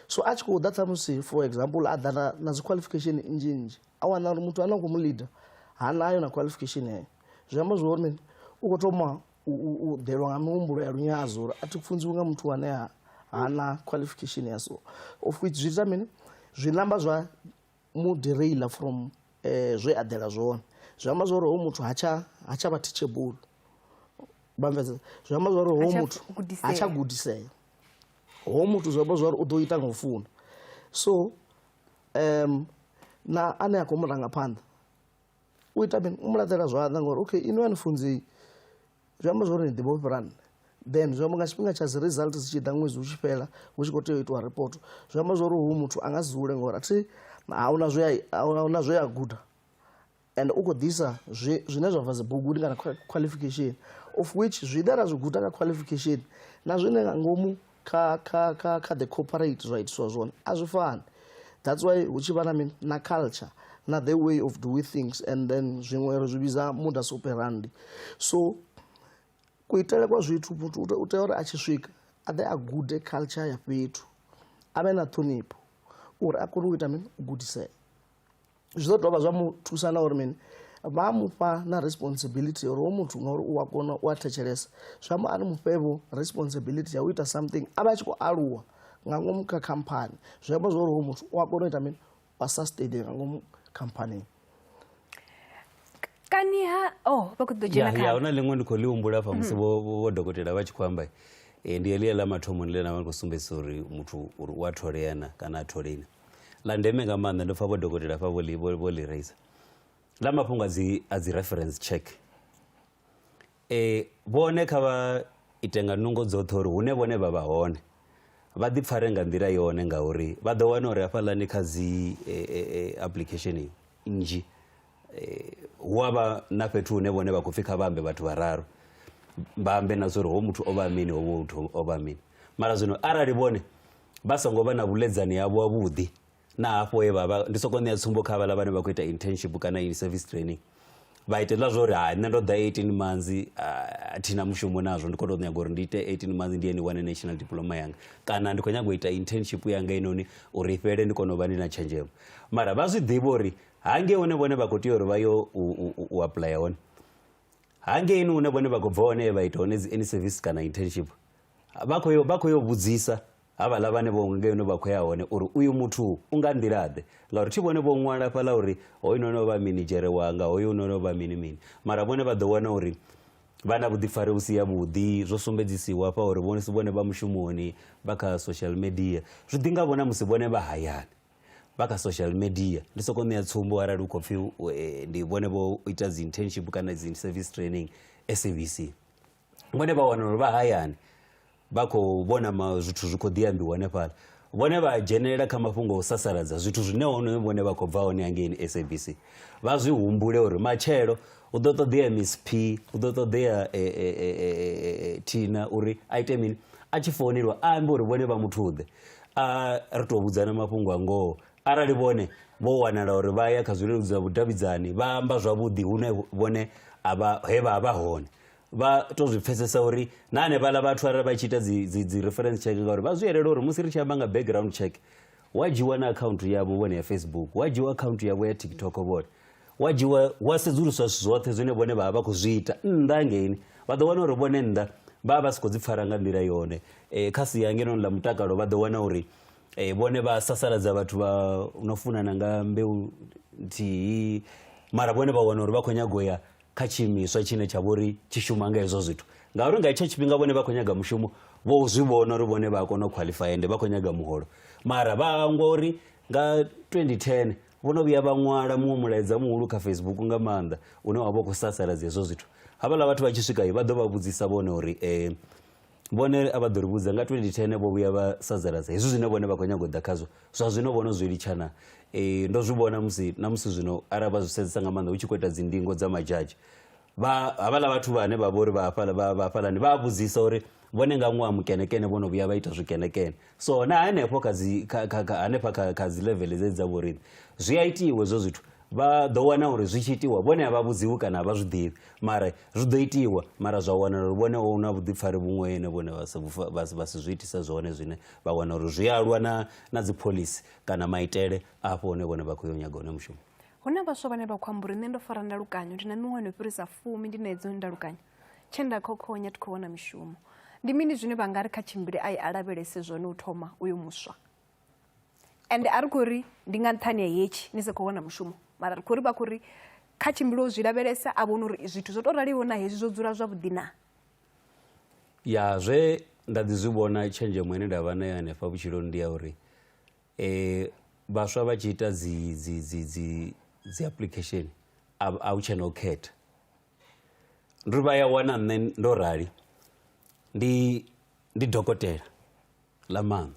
so a tshi khou ḓa ṱhamusi for example a ḓa na, na dzi qualification nnzhi nnzhi a wana uri muthu ane a khou mu leader ha nayo na qualification heyo zwi amba zwa uri u khou thoma u ḓelwa nga mihumbulo ya lunyadzo uri a thi funziwi nga muthu ane ha na qualification ya so of which zwi ita mini zwi namba zwa mu derail from eh, zwe a ḓela zwone zwi amba zwa uri ho muthu ha tsha ha tsha vha teachable bamvesa zwi amba zwa uri ho muthu ha tsha gudisea ho muthu zwi amba zwa uri u ḓo ita nga u funa so um na ane a khou mu ranga phanḓa u ita mini u mu laṱela zwanḓa ngori okay inwi a ni funzei zwi amba zwori ni ḓivha u fhira nṋe then zwi amba nga tshifhinga tsha dzi result dzi tshi ḓa ṅwedzi u tshi fhela hu tshi khou tea u itiwa report zwi amba zwori hu muthu a nga si dzule ngori athi ahuna zwe ahuna zwe a guda and u khou ḓisa zwine zwa bva dzibuguni kana qualification of which zwine ra zwi guda nga qualification na zwine nga ngomu kha kha kha kha the corporate zwa itiswa zwone a zwi fani that's why hu tshi vha na mini na culture na the way of doing things and then zwiṅwe ri zwi vhidza muda superandi so kuitele kwa zwithu muthu u tea uri a tshi swika a ḓe a gude culture ya fhethu a vhe na ṱhonipho uri a kone u ita mini u gudisea zwi ḓo dovha zwa mu thusa na uri mini vha mufha na responsibility uri wo muthu ngauri u a kona u a thetshelesa zwi amba a ni mufhevho responsibility ya u ita something a vha a tshi khou aluwa nga ngomu kha khamphani zwi amba zwa uri wo muthu u a kona u ita mini wa sustain nga ngomu khamphanini kani ha oh vha khou ḓo dzhena kha huna ḽiṅwe ndi khou ḽi humbula fa musi vho vho dokotela vha tshi khou amba eh, ndi elia ḽa mathomoni ḽe na vha khou sumbedzisa uri muthu uri u a tholea na kana a tholeni ḽa ndeme nga maanḓa ndo pfha vho dokotela fha vho ḽi raisa ḽa mafhungo a dzi a dzi reference check eh vhone kha vha ite nga nungo dzoṱhe uri hune vhone vha vha hone vha ḓi pfare nga nḓila yone ngauri vha ḓo wana uri hafhaḽani kha dzi application nnzhi hu a vha na fhethu hune vhone vha khou pfhi kha vha ambe vhathu vhararu vha ambe na zwa uri ho muthu o vha mini ho muthu o vha mini mara zwino arali vhone vha songo vha na vhuledzani havho ha vhuḓi na hafho he vha ndi soko ṋea tsumbo kha vhala vhane vha khou ita internship kana in service training vha ite zwa uri ha nṋe ndo ḓa 18 manzi a thina mushumo nazwo ndi khou tou nyaga uri ndi ite 18 manzi ndi ye ni wane national diploma yanga kana ndi khou nyaga u ita internship yanga inoni uri i fhele ndi kone u vha ndi na tshenzhemo mara vha zwi ḓivha uri hange hune vhone vha khou tea uri vha yo u apuḽaya hone hangeini hune vhone vha khou bva hone vha ita hone dzi any service kana internship vha khou yo vha khou yo vhudzisa havhaḽa vhane vho ngeno vha khou ya hone uri uyu muthu u nga nḓila-ḓe ngauri thi vhone vho ṅwala fhaḽa uri hoyu no no vha minidzhere wanga hoyu no no vha mini mini mara vhone vha ḓo wana uri vha na vhuḓifari vhu si ya vhuḓi zwo sumbedzisiwa hafha uri vhone si vhone vha mushumoni vha kha social media zwi ḓi nga vhona musi vhone vha hayani vha kha social media ndi soko ṋea tsumbo arali u khou pfhi e, ndi vhone vho ita dzi internship kana dzi service training SABC vhone vha wana uri vha hayani vha khou vhona zwithu zwi khou ḓi ambiwa hanefhala vhone vha dzhenelela kha mafhungo o sasaladza zwithu zwine hone vhone vha khou bva hone hangeini sabc vha zwi humbule uri matshelo u ḓo ṱoḓea msp u ḓo ṱoḓea e, e, e, thina uri a ite mini a tshi founelwa a ambe uri vhone vha muthuḓe a ri tou vhudzana mafhungo a ngoho arali vhone vho wanala uri vha ya kha zwileludzi zwa vhudavhidzani vha amba zwavhuḓi hune vhone he vha vha hone vha to zwi pfesesa uri na hanevhala vhathu arali vha tshi ita dzi reference check ngauri vha zwi yelela uri musi ri tshi amba nga background check wa dzhiwa na akhaunthu yavho vhone ya facebook wa dzhiwa akhaunthu yavho ya tiktok vhone wa dzhiwa wa sedzuluswa zwithu zwoṱhe zwine vhone vha vha vha khou zwi ita nnḓa ngeini vha ḓo wana uri vhone nnḓa vha vha vha si khou dzi pfara nga nḓila yone um kha sia ngenoni ḽa mutakalo vha ḓo wana uri um vhone vha sasaladza vhathu vha no funana nga mbeu nthihi mara vhone vha wana uri vha khou nyago ya kha tshiimiswa tshine tsha vhori tshi shuma nga hezwo zwithu ngauri nga itsho tshifhinga vhone vha khou nyaga mushumo vho zwi vhona uri vhone vha a kona u khwaḽifaya ende vha khou nyaga muholo mara vha hangwa uri nga 2010 vho no vhuya vha ṅwala muṅwe mulaedza muhulu kha facebook nga maanḓa une wa vha u khou sasaladza hezwo zwithu havhaḽa vhathu vha tshi swika vha ḓo vha vhudzisa vhone uri um vhone a vha ḓo ri vhudza nga 2010 vho vhuya vha sadzaladza hezwi zwine vhone vha khou nyago u ḓa khazwo zwa zwino vhono zwi litshana um ndo zwi vhona musi na musi zwino arali vha zwi sedzesa nga maanḓa hu tshi khou ita dzindingo dza madzhadzhi havhaḽa vhathu vhane vha vha uri vha hafhalani vha a vhudzisa uri vhone nga ṅwaha mukenekene vho no vhuya vha ita zwikenekene so na hanefho kha dzi kha- kha- kha- hanefha kha kha dzi level dze dza vhoriṋe zwi a itiwa hezwo zwithu vha ḓo wana uri zwi tshi itiwa vhone a vha vhudziwi kana a vha zwi ḓivhi mara zwi ḓo itiwa mara zwa wanala uri vhone hu na vhuḓifari vhuṅwe ene vhone vha si vhufa- vha si- vha si zwi itisa zwone zwine vha wana uri zwi alwa na na dzi pholisi kana maitele afho hune vhone vha khou yo nyaga hone mushumo hu na vhaswa vhane vha khou amba uri nṋe ndo fara ndalukanyo ndi na miṅwaha no fhirisa fumi ndi na hedzo ndalukanyo tshe nda khokhonya thi khou wana mishumo ndi mini zwine vha nga ri kha tshimbile a i a lavhelese zwone u thoma uyo muswa ende a ri khou ri ndi nga nṱhani ya hetshi ni sa khou wana mushumo mara ri khou ri vha khou ri kha tshimbile u zwi lavhelesa a vhona uri zwithu zwo tou raliho na hezwi zwo dzula zwavhuḓi na ya zwe nda ḓi zwi vhona tshenzhemo ine nda vha nayo hanefha vhutshiloni ndi ya uri um vhaswa vha tshi ita dzi dzi dzi dzi dzi application a hu tshena u khetha ri vha ya wana nṋe ndo rali ndi ndi dokotela ḽa maṋo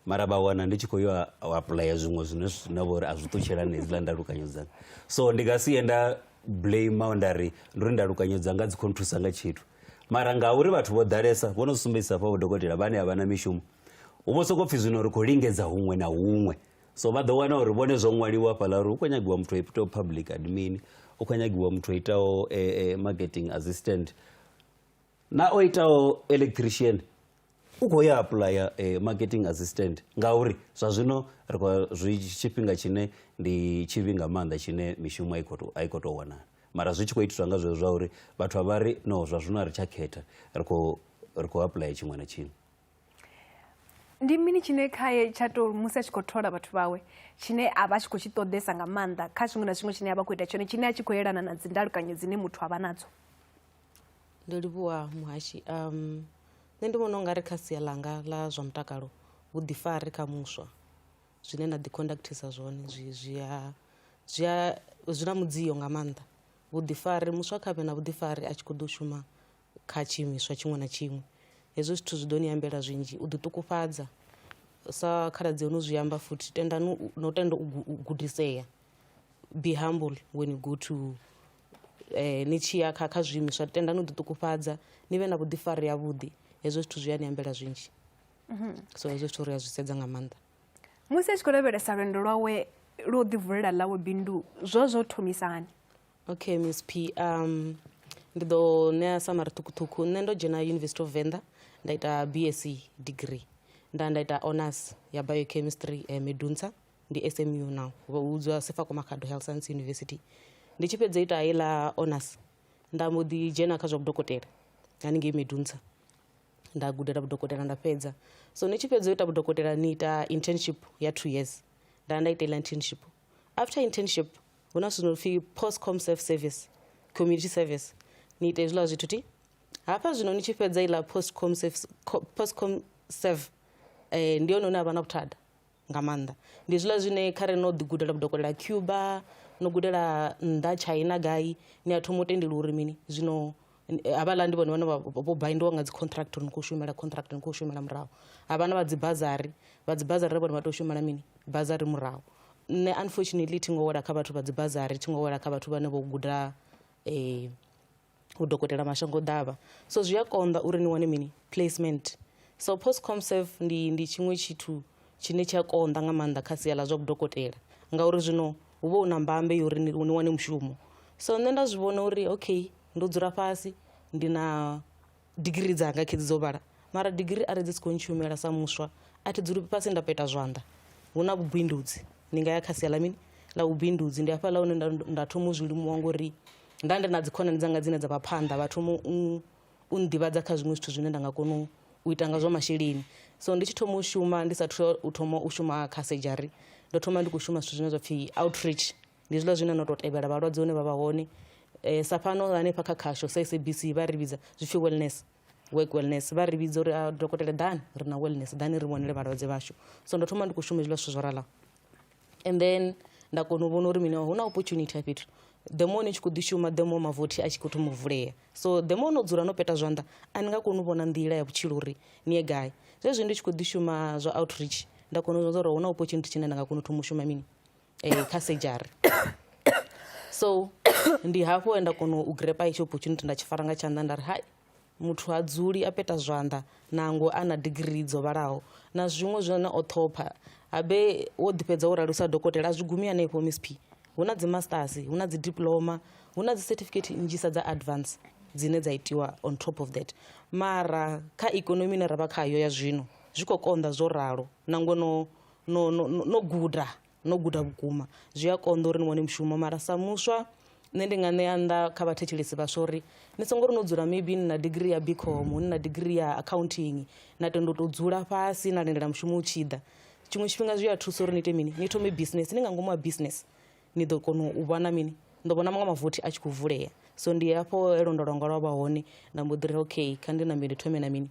mara vha wana ndi tshi khou yo u apuḽaya zwiṅwe zwine zwine vha uri a zwi ṱutshela na hedziḽa ndalukanyo dzanga so ndi nga si ye nda blame nda ri ndo ri ndalukanyo dzanga dzi khou nthusa nga tshithu mara ngauri vhathu vho ḓalesa vho no sumbedzisa fha vho dokotela vhane a vha na mishumo hu vho sokou pfhi zwino ri khou lingedza huṅwe na huṅwe so vha ḓo wana uri vhone zwo ṅwaliwa hafhaḽa uri hu khou nyagiwa muthu a itaho public admin hu khou nyagiwa muthu a itaho eh, eh, marketing assistant na o itaho electrician u khou ya aplya eh, marketing assistant ngauri zwa zwino ri khou zwi tshifhinga tshine ndi tshivhi nga maanḓa tshine mishumo a i khou to- a i khou tou wanala mara zwi tshi khou itiswa nga zwezwo zwa uri vhathu a vha ri no zwa zwino a ri tsha khetha ri khou ri khou aplya tshiṅwe na tshiṅwe ndi mini tshine khaye tsha to musi a tshi khou thola vhathu vhawe tshine a vha tshi khou tshi ṱoḓesa nga maanḓa kha zwiṅwe na zwiṅwe tshine a vha khou ita tshone tshine a tshi khou yelana na dzindalukanyo dzine muthu a vha nadzo ndo livhuwa muhashi um nṋe ndi vhona u nga ri kha sia ḽanga ḽa zwa mutakalo vhuḓifari kha muswa zwine na ḓiconductisa zwone zwi zwia zwia zwi na mudzio nga maanḓa vhuḓifari muswa kha vhe na vhuḓifari a tshi khou ḓo shuma kha tshiimiswa tshiṅwe na tshiṅwe hezwo zwithu zwi ḓo ni ambela zwinzhi u ḓi ṱukufhadza sa khaladzi yo no zwi amba futhi tendani no tenda u gudisea be humble when you go to eh, ni tshi ya kha kha zwiimiswa tendani u ḓi ṱukufhadza ni vhe na vhuḓifari havhuḓi hezwo zwithu zwi a ni ambela zwinzhi mhm. so hezwo zwithu ri a zwi sedza nga maanḓa musi a tshi khou lavhelesa lwendo lwawe lwo ḓivulela ḽawe bindu zwo zwo thomisani okay miss p um ndi ḓo ṋea samari ṱhukhuṱhukhu nṋe ndo dzhena university of venḓa nda ita bsc degree nda nda ita honors ya biochemistry eh, medunsa ndi smu now vha vhudzwa sefako makhado health science university ndi tshi fhedza ita heiḽa honors nda mbo ḓi dzhena kha zwa vhudokotela haningei medunsa nda gudela vhudokotela nda fhedza so ni tshi fhedza u ita vhudokotela ni ita internship ya two years nda nda ita iḽa internship after internship hu na zwithu no pfi post com self service community service ni ite hezwiḽa zwithu ti hafha zwino ni tshi fhedza iḽa post com service post com serve eh, ndi hone hune ha vha na vhuthada nga maanḓa ndi zwiḽa zwine kha re no ḓi gudela vhudokotela cuba no gudela nnḓa china gai ni a thoma u tendeliwa uri mini zwino havhaḽa ndi vhone vhane vho baindiwa nga dzi contract uri ni khou shumela contract ni khou shumela murahu havhana vha dzi bazari vha dzi bazari vhone vha tou shumela mini bazari murahu nṋe unfortunately thi ngo wela kha vhathu vha dzi bazari thi ngo wela kha vhathu vhane vho guda um u dokotela mashango ḓavha so zwi a konḓa uri ni wane mini placement so post comserve ndi ndi tshiṅwe tshithu tshine tsha konḓa nga maanḓa kha sia ḽa zwa vhudokotela ngauri zwino hu vha hu na mbambe yo uri ni wane mushumo so nṋe nda zwi vhona uri okay ndo dzula fhasi ndi na digiri dzanga khedzi dzo vhala mara digiri are dzi si khou ntshumela sa muswa a thi dzuli fhasi nda peta zwanḓa hu na vhubindudzi ndi nga ya kha sia ḽa mini ḽa vhubindudzi ndi hafhaḽa hune nda, nda thoma u zwi limuwa ngori nda ndi na dzikhonani dzanga dzine dza vha phanḓa vha thoma u u nḓivhadza kha zwiṅwe zwithu zwine nda nga kona u ita nga zwa masheleni so ndi tshi thoma u shuma ndi sathu u thoma u shuma kha surgery ndo thoma ndi khou shuma zwithu zwine zwa pfhi outreach ndi zwiḽa zwine no tou tevhela vhalwadze hune vha vha hone um sa fhano hanefha kha khasho sa sabc vha ri vhidza zwi pfhi wellness work wellness vha ri vhidza uri a ah, dokotela ḓani ri na wellness ḓani ri vhonele vhalwadze vhashu so ndo thoma ndi khou shuma hezwiḽa zwithu zwo ralaho and then nda kona u vhona uri mini hu na opportunity a fhethu the more ni tshi khou ḓi shuma the more mavothi a tshi khou thoma u vulea so the more no dzula no peta zwanḓa a ni nga koni u vhona nḓila ya vhutshilo uri ni ye gai zwezwi ndi tshi khou ḓi shuma zwa outreach nda kona u zwa uri hu na opportunity tshine nda nga kona u thoma u shuma mini eh, kha sejari so ndi hafho he nda kona u grepa hetsho opportunity nda tshi fara nga tshanḓa nda ri hai muthu ha dzuli a peta zwanḓa nango a na digirii dzo vhalaho na zwiṅwe zwine o ṱhopha habe wo ḓifhedza wo rali u sa dokotela a zwi gumi hanefho msp hu na dzimasters hu na dzidiploma hu na dzicertificate nnzhisa dza advance dzine dza itiwa on top of that mara kha ikonomi ine ra vha khayo ya zwino zwi khou konḓa zwo ralo na ngono no, no, no, no guda no guda vhukuma zwi a konḓa uri ni wane mushumo mara sa muswa nṋe ndi nga ṋea nnḓa kha vhathetshelesi vhaswa uri ni songo ri no dzula maybe ni na digiri ya bicom ni na digiri ya accounting na tendo to dzula fhasi na lindela mushumo u tshi ḓa tshiṅwe tshifhinga zwi a thusa uri ni ite mini ni thome business ni nga ngomu ha business ni ḓo kona u vhona mini ndo vhona maṅwe mavothi a tshi khou vulea so ndi hafho elondolonga lwa vha hone nda mbo ḓi ri okay kha ndi nambe ndi thome na mini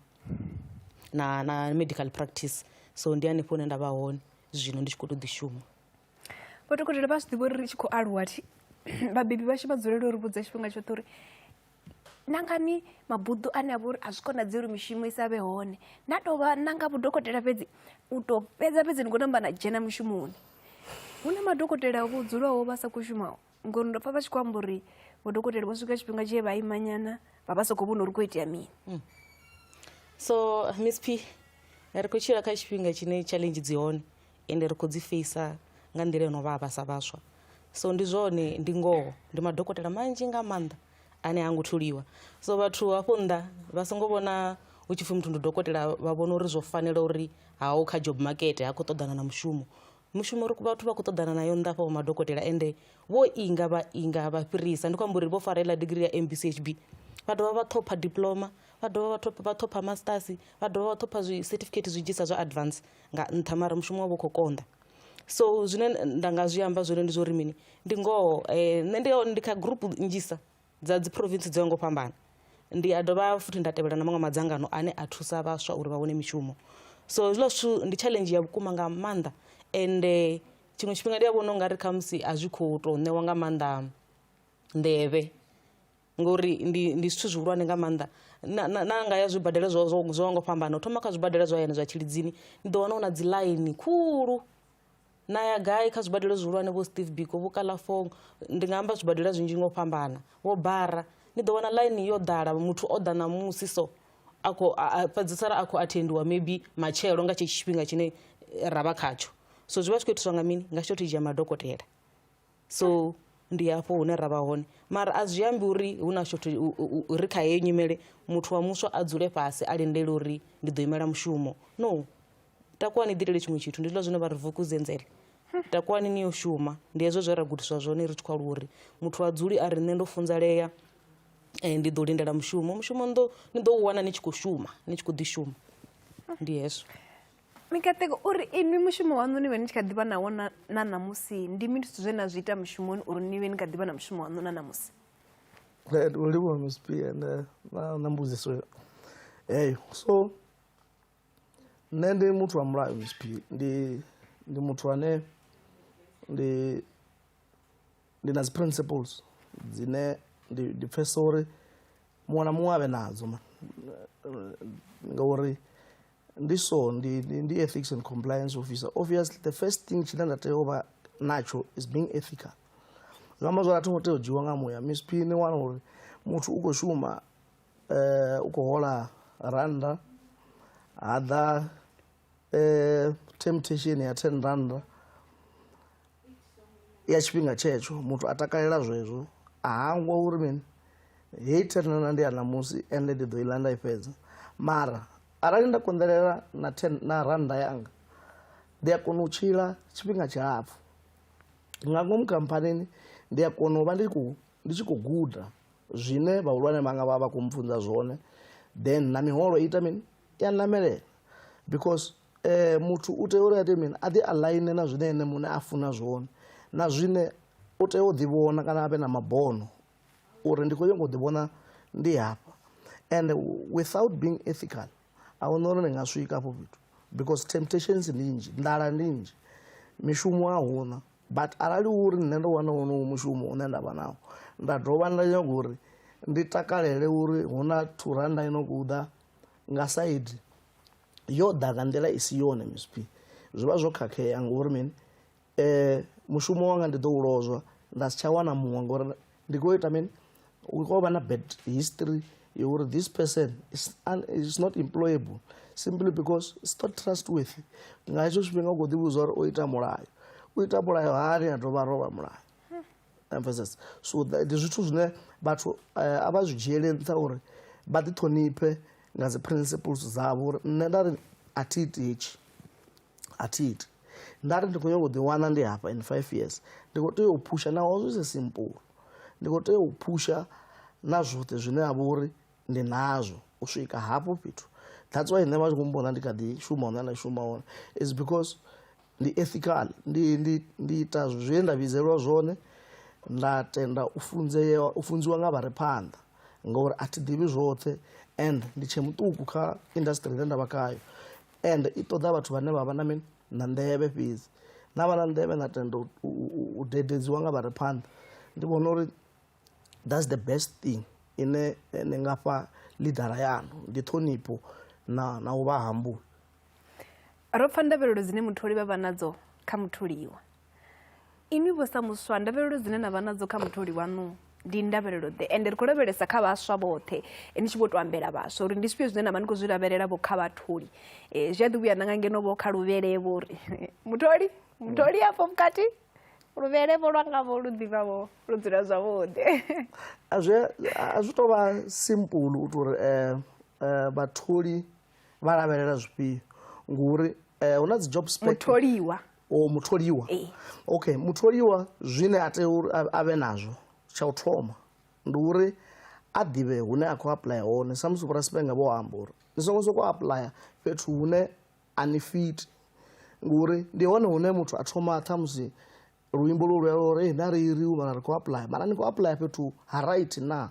na na medical practice so ndi hanefho hune nda vha hone zwino ndi tshi khou tou ḓi shuma vho dokotela vha zwi ḓivha uri ri tshi khou aluwa thi vhabebi vhashu vha dzulela uri vhudza tshifhinga tshoṱhe uri nangani mabuḓo ane a vha uri a zwi konadzei uri mishumo i sa vhe hone na tou vha nanga vhudokotela fhedzi u tou fhedza fhedzi ni khou namba na dzhena mushumoni hu na madokotela vho dzulaho vha sa khou shumaho ngori ndo pfa vha tshi khou amba uri vhodokotela vho swika tshifhinga tshee vha imanyana vha vha sokou vhona uri khou itea mini mm. so miss p ri khou tshila kha tshifhinga tshine challenge dzi hone ende ri khou dzi feisa nga nḓila yo no vha vhasa vhaswa so ndi zwone ndi ngoho ndi madokotela manzhi nga maanḓa ane ha ngo thuliwa so vhathu hafho nnḓa vha songo vhona hu tshi pfhi muthu ndi dokotela vha vhona uri zwo fanela uri haho kha job market ha khou ṱoḓana na mushumo mushumo ri vhathu vha khou ṱoḓana nayo nnḓa afha vho madokotela ende vho inga vha inga vha fhirisa ndi khou amba uri vho fara iḽa digiri ya mbchb vha dovha vha ṱhopha diploma vha dovha vha ṱhopha vha ṱhopha masters vha dovha vha ṱhopha zwi certificate zwi dzhisa zwa advance nga nṱha mara mushumo wavho khou konḓa so zwine nda nga zwi amba zwone ndi zwo uri mini ndi ngoho eh, nṋe ndi ndi kha group nnzhisa dza dzi province dzo ngo fhambana ndi a dovha futhi nda tevhela na maṅwe madzangano ane a thusa vhaswa uri vha wane mishumo so hezwiḽa zwithu ndi challenge ya vhukuma nga maanḓa ende tshiṅwe tshifhinga ndi a vhona ungari khamusi a zwi khou tou ṋewa nga maanḓa nḓevhe ngori ndi ndi zwithu zwihulwane nga maanḓa na na- na nga ya zwibadela zwo zwo zwo ngo fhambana u thoma kha zwibadela zwa hayani zwa tshilidzini ni ḓo wana hu na dzi ḽaini khulu na ya gai kha zwibadela zwihulwane vho steve biko vho kalafong ndi nga amba zwibadela zwinzhi ngo fhambana vho bara ni ḓo wana line yo ḓala muthu o ḓa ṋamusi so a khou fhedzisela a khou athendiwa maybe matshelo nga tshetsho tshifhinga tshine eh, ra vha khatsho so zwi vha zwi khou itiswa nga mini nga tshithu thizhi ya madokotela so ndi hafho hune ra vha hone mara a zwi ambi uri hu na shothe ri kha heyo nyimele muthu wa muswa a dzule fhasi a lindele uri ndi ḓo imela mushumo no takuwa ni ḓitele tshiṅwe tshithu ndi zwiḽa zwine vha ri vukudzenzele takuwani ni yo shuma ndi hezwo zwe ra gudiswa zwone ri tshi khou aluwa uri muthu a dzuli a ri nṋe ndo funzalea eh, ndi ḓo lindela mushumo mushumo ni ḓo u wana ni tshi khou shuma ni tshi khou ḓi shuma ndi hezwo Mikaṱeko u ri inwi mushumo waṋu ni vhe ni tshi kha ḓivha nawo na ṋamusi ndi mini zwithu zwe na zwi ita mushumoni uri ni vhe ni kha ḓivha na mushumo waṋu na ṋamusi u livhuwa msp ende na mbudziso heyo so nṋe ndi muthu wa mulayo msp ndi ndi muthu ane ndi ndi na dzi principles dzine ndi ndi pfhesesa uri muṅwe na muṅwe a vhe nadzo ngauri ndi so ndi, ndi, ndi ethics and compliance officer obviously the first thing tshine nda tea u vha natsho is being ethical zwi amba zwori a tho ngo tea u dzhiwa nga muya msp ni wana uri muthu u khou shuma eh, u khou hola randa ha ḓa eh, temptation ya 10 randa ya tshifhinga tshetsho muthu a takalela zwezwo a hangwa uri mini heyi thenana ndi ya ṋamusi ende ndi ḓo iḽa nda i fhedza mara arali nda konḓelela na ten na rannda yanga ndi a kona u tshila tshifhinga tshilapfhu nga ngomu khamphanini ndi a kona u vha ndi khou ndi tshi khou guda zwine vhahulwane vhanga vha vha khou mpfunza zwone then na miholo ita mini i ya namelela because eh, muthu u tea uri ate mini a ḓi align na zwine ene muṋe a funa zwone na zwine u tea u ḓivhona kana a vhe na mabono uri ndi khou nyanga u ḓivhona ndi hafha and without being ethical a huna uri ndi nga swika afho fhethu because temptations ndi nnzhi nḓala ndi nnzhi mishumo a huna but arali uri nṋe ndo wana wonowo mushumo une nda vha nawo nda dovha nda nyaga uri ndi takalele uri hu na thuranda i no khou ḓa nga saidi yo ḓa nga nḓila i si yone msp zwi vha zwo khakhea ngori mini um mushumo wanga ndi ḓo u lozwa nda si tsha wana muṅwe ngori ndi khou ita mini hu khou vha na bad history ya uri this person is, un, is not employable simply because it's not trustworthy nga hetsho tshifhinga u khou ḓivhudza uri o ita mulayo u ita mulayo hani a dovha a rovha mulayo emphasis so ndi zwithu zwine vhathu eh, a vha zwi dzhiele nṱha uri vha ḓi ṱhoniphe nga dzi principles dzavho uri nṋe nda ri a thi iti hetshi a thi iti nda ri ndi khou nyanga u ḓi wana ndi hafha in five years ndi khou tea u phusha naho zwi si simple ndi khou tea u phusha na zwoṱhe zwine ha vha uri ndi nazwo u swika hafho fhethu that's why nṋe vha tshi khou mbona ndi kha ḓi shuma hone na shuma hone is because Ndi ethical, ndi, ndi, ndi ita zwe nda vhidzelwa zwone, nda tenda u funzea, u funziwa nga vha re phanḓa, ngauri a thi ḓivhi zwoṱhe and ndi tshe muṱuku kha industry ine nda vha khayo and i ṱoḓa vhathu vhane vha vha na mini, na nḓevhe fhedzi. Na vha na nḓevhe na tenda u, u, u dededziwa nga vha re phanḓa. Ndi vhona uri that's the best thing ine eh, ni nga fha lidara yanu ndi ṱhonipho na na u vha hambula ro pfa ndavhelelo dzine mutholi vha vha nadzo kha mutholiwa inwi vho sa muswa ndavhelelo dzine na vha nadzo kha mutholi wanu ndi ndavhelelo ḓe ende ri khou lavhelesa kha vhaswa vhoṱhe eh, ni tshi vho to ambela vhaswa uri ndi zwifhio zwine na vha ni khou zwi lavhelela vho kha vhatholi um zwi a ḓi vhuya nanga ngeno vho kha luvhele vho ri mutholi mutholi afho vhukati luvhele vho lwanga vho lu ḓivha vho lu dzula zwavhuḓi a zwi a zwi tou vha simple u tou uri um vhatholi vha lavhelela zwifhio ngori um hu na dzi job mutholiwa o oh, mutholiwa okay mutholiwa zwine a tea uri a vhe nazwo tsha u thoma ndi uri a ḓivhe hune a khou apuḽaya hone samusi vhorasipenga vho amba uri ni songo sokou apuḽaya fhethu hune a ni fiti ngori ndi hone hune muthu a thoma ṱhamusi luimbo lu lwela uri ee na ri iriu mara ri khou apply mara ni khou apply fhethu ha right na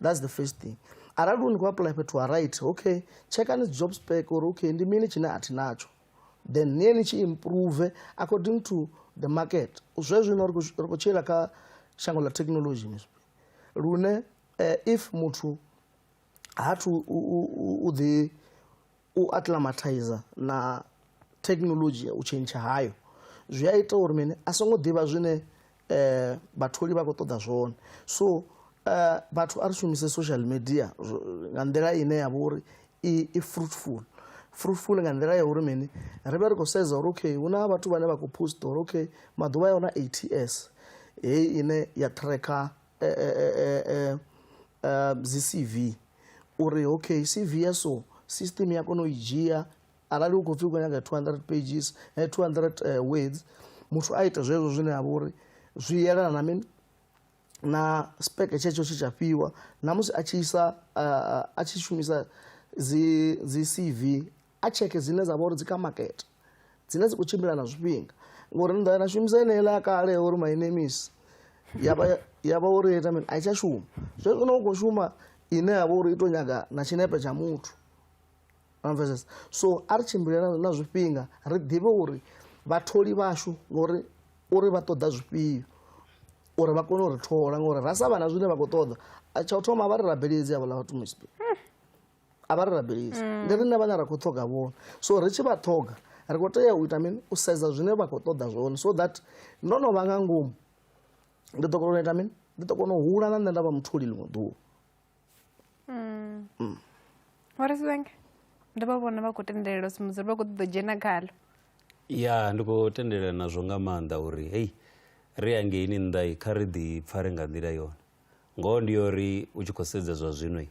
that's the first thing arali u ni khou apply fhethu ha right okay tshekani dzi job spec uri okay ndi mini tshine a thi natsho then niye ni tshi improve according to the market zwe zwino ri khou tshila kha shango ḽa technology misp lune eh, if muthu ha thu u ḓi u acclimatizer na thekinoḽodzhi, u tshentsha hayo zwi a ita uri mini a songo ḓivha zwine eh, vhatholi vha khou ṱoḓa zwone so eh, vhathu a ri shumise social media nga nḓila ine ya vha uri i, i fruitful fruitful nga nḓila ya uri mini ri vhe ri khou sedza uri okay hu na vhathu vhane vha khou post uri okay maḓuvha ya hona 8 years heyi ine ya tracker eh, eh, eh, eh, eh, dzi cv uri okay cv ya so system ya kona u i dzhia arali u khou pfhi u khou nyaga 200 pages eh, 200 eh, words muthu a ita zwezwo zwine a vha uri zwi yelana na mini na speke tshetsho tshe tsha fhiwa na musi a tshi isa ah, a tshi shumisa dzi dzi cv a tsheke dzine dza vha uri dzi kha makete dzine dzi khou tshimbila na zwifhinga ngori ni ḓo na shumisa eneiḽa ya kale ya uri my name is ya vha uri ita mini a i tsha shuma zwe zwino u khou shuma ine ya vha uri i tou nyaga na tshinepe tsha muthu amvesesa so a ri tshimbile na zwifhinga ri ḓivhe uri vhatholi vhashu ngori uri vha ṱoḓa zwifhio uri vha kone u ri thola ngori ra sa vha na zwine vha khou ṱoḓa tsha u thoma vha ri rabeledzi havhala vhathu muspe a vha ri rabelisi mm. ndi riṋe vhane ra khou ṱhoga vhone so ri tshi vha ṱhoga ri khou tea u ita mini u sedza zwine vha khou ṱoḓa zwone so that ndo no vha nga ngomu ndi ḓo kona u ita mini ndi ḓo kona u hula na nṋe nda vha mutholi ḽiṅwe ḓuvha mm. mm. warisibenge ndo vha vhona vha khou tendelela sumudzuri vha khou ṱoḓa dzhena khalo ya ndi khou tendelela nazwo nga maanḓa uri hei ri angeini nnḓa kha ri ḓi pfare nga nḓila yone ngoho ndi yo ri u tshi khou sedza zwa zwino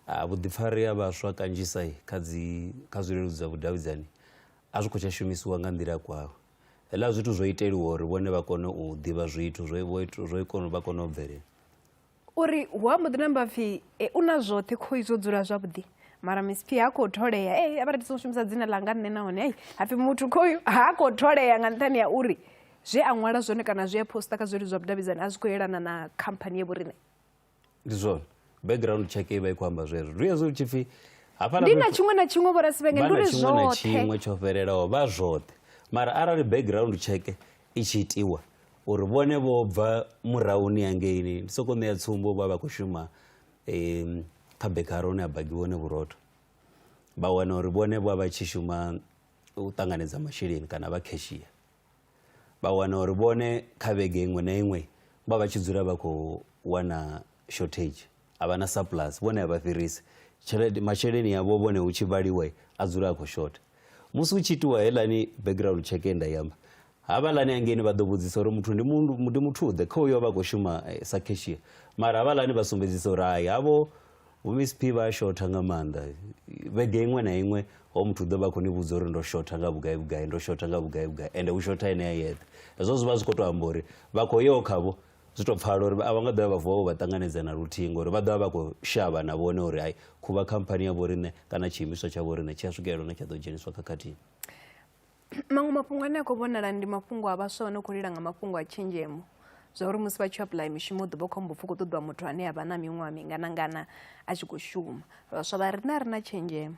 ah, vhuḓifari ha vhaswa kanzhisa kha dzi kha zwileludzi zwa vhudavhidzani a zwi khou tsha shumisiwa nga nḓila kwaho hela zwithu zwo iteliwa uri vhone vha kone u ḓivha zwithu zwo vho ita- zwo kone vha kone u bvelela uri hu ambo ḓi namba pfhi e, u na zwoṱhe khoi zwo dzula zwavhuḓi mara miss p ha khou tholea e a vha ri songo shumisa dzina ḽanga nṋe nahone ei hapfi muthu khoyu ha khou tholea nga nṱhani ya uri zwe a ṅwala zwone kana zwe a posta kha zwileludzi zwa vhudavhidzani a zwi khou yelana na khamphani ye vhoriṋe ndi zwone background check i vha i khou amba zwezwo ndi hezwo tshi pfhi ndi na tshiṅwe na tshiṅwe vhorasivhenge ndi uri zwoṱhe tsho fhelelaho vha zwoṱhe mara arali background check i tshi itiwa uri vhone vho bva murahuni hangeini ndi soko ṋea tsumbo vha vha khou shuma um kha bekara hune a bagiwa hone vhurotho vha wana uri vhone vha vha tshi shuma u ṱanganedza masheleni kana vha cashier vha wana uri vhone kha vhege iṅwe na iṅwe vha vha tshi dzula vha khou wana shortage a vha na surplus vhone a vha fhirisi tshelede masheleni avho vhone hu tshi vhaliwa a dzula a khou shotha musi hu tshi itiwa helani background check ye nda yamba havhalani hangeni vha ḓo vhudzisa uri muthu ndi muthu-ḓe kha uyo vha khou shuma eh, sa cashier mara havhalani vha sumbedzisa uri hai havho vhomsp vha a shotha nga maanḓa vhege iṅwe na iṅwe ho muthu u ḓo vha khou ni vhudza uri ndo shotha nga vhugai vhugai ndo shotha nga vhugai vhugai ende u shotha ene a yeṱhe hezwo zwi vha zwi khou tou amba uri vha khou yo khavho zwi tou pfala uri a vha nga ḓovha vha vuwa vho vha ṱanganedza na luthihi ngori vha ḓovha vha khou shavha na vhone uri hai khuvha khamphani ya vhoriṋe kana tshiimiswa tsha vhoriṋe tshi a swikelela hune tsha ḓo dzheniswa khakhathini maṅwe mafhungo ane a khou vhonala ndi mafhungo a vhaswa vha no khou lila nga mafhungo a tshenzhemo zwa uri musi vha tshi apply mishumo ḓuvha khombo pfhi khou ṱoḓiwa muthu ane a vha na miṅwaha minganangana a tshi khou shuma vhaswa vha rina ri na tshenzhemo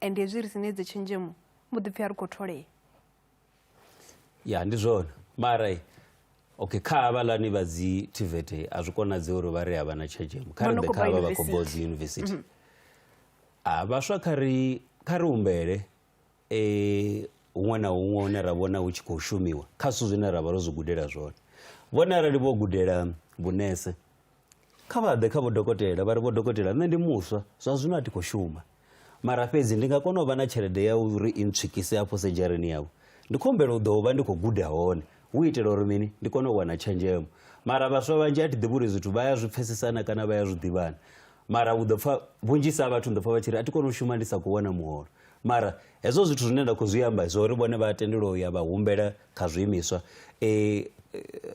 and hezwi ri sine idzo tshenzhemo mbo ḓi pfhi a ri khou tholea ya ndi zwone mara okay kha havhalani vha dzi tivete a zwi konadzei uri vha ri a vha na tshenzhemo kha ri ḓe kha vha vha khou bva dzi yunivesithi a vhaswa kha ri kha ri humbele eh, huṅwe na huṅwe hune ra vhona hu tshi khou shumiwa kha zwithu zwine ra vha ro zwi gudela zwone vhone arali vho gudela vhunese kha vha ḓe kha vhodokotela vha ri vhodokotela nṋe ndi muswa zwa zwino a thi khou shuma mara fhedzi ndi nga kona u vha na tshelede ya uri i ntswikise afho sedzhareni yavho ndi khou humbela u ḓo vha ndi khou guda hone hu itela uri mini ndi kone u wana tshenzhemo mara vhaswa vhanzhi a thi ḓivhi uri zwithu vha ya zwi pfesesana kana vha ya zwi ḓivhana mara u ḓo pfa vhunzhisa ha vhathu ndo pfa vha tshi ri a thi kone u shuma ndi sa khou wana muholo Mara hezwo zwithu zwine nda khou zwi amba zwa uri vhone vha tendelwa u ya vha humbela kha zwiimiswa um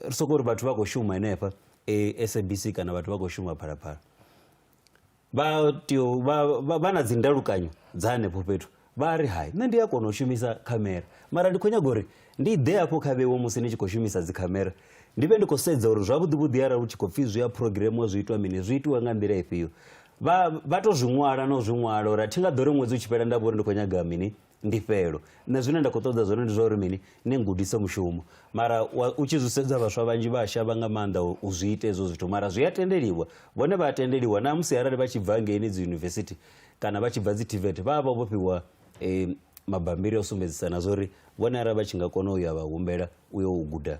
ri sokou uri vhathu vha khou shuma henefha um sabc kana vhathu vha khou shuma phalaphala vha tea vha na dzi ndalukanyo dza hanefho fhethu vha ri hai nṋe ndi a kona u shumisa khamera mara ndi khou nyaga uri ndi ḓe hafho kha vhewo musi ni tshi khou shumisa dzi khamera ndi vhe ndi khou sedza uri zwavhuḓi vhuḓi arali u tshi khou pfhi zwi a programmiwa zwi itwa mini zwi itiwa nga nḓila ifhio vha vha to zwi ṅwala na u zwi ṅwala uri a thi nga ḓo ri ṅwedzi u tshi fhela nda vha uri ndi khou nyaga mini ndifhelo nṋe zwine nda khou ṱoḓa zwone ndi zwa uri mini ni ngudise mushumo mara wa- u tshi zwi sedza vhaswa vhanzhi vha a shavha nga maanḓa u- u zwi ita hezwo zwithu mara zwi a tendeliwa vhone vha a tendeliwa na musi arali vha tshi bva ngeini dzi yunivesithi kana vha tshi bva dzi tvet vha vha vho fhiwa eh, mabambiri a u sumbedzisa na zwa uri vhone arali vha tshi nga kona u ya vha humbela u yo u guda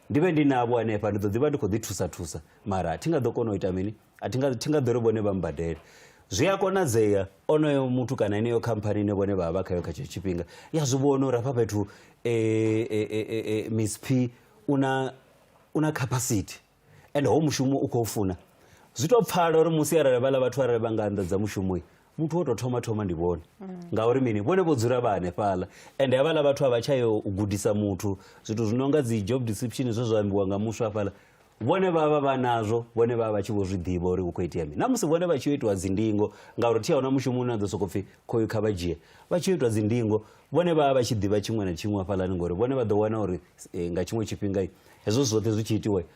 ndi vhe ndi navho hanefha ndi ḓo ḓi vha ndi khou ḓi thusa thusa mara thi nga ḓo kona u ita mini a thi nga thi nga ḓo ri vhone vha mbadele zwi a konadzea onoyo muthu kana ineyo khamphani ine vhone vha vha vha khayo kha tshetsho tshifhinga ya zwi vhona uri hafha fhethu e, e, e, e, e, miss p u na u na capacity and ho mushumo u khou funa zwi tou pfala uri musi arali vhala vhathu arali vha nga anḓadza mushumo muthu wo tou thoma thoma ndi vhone ngauri mini vhone vho dzula vha hanefhaḽa ende havhaḽa vhathu a vha tsha yo u gudisa muthu zwithu zwi no nga dzi job description zwe zwa ambiwa nga muswa hafhaḽa vhone vha vha vha nazwo vhone vha vha vha tshi vho zwi ḓivha uri hu khou itea mini na musi vhone vha tshi yo itiwa dzindingo ngauri thi a huna mushumo une a ḓo sokou pfhi khoyu kha vha dzhie vha tshi yo itiwa dzindingo vhone vha vha vha tshi ḓivha tshiṅwe na tshiṅwe hafhaḽani ngori vhone vha ḓo wana uri eh, nga tshiṅwe tshifhinga hezwo zwoṱhe zwi tshi itiwa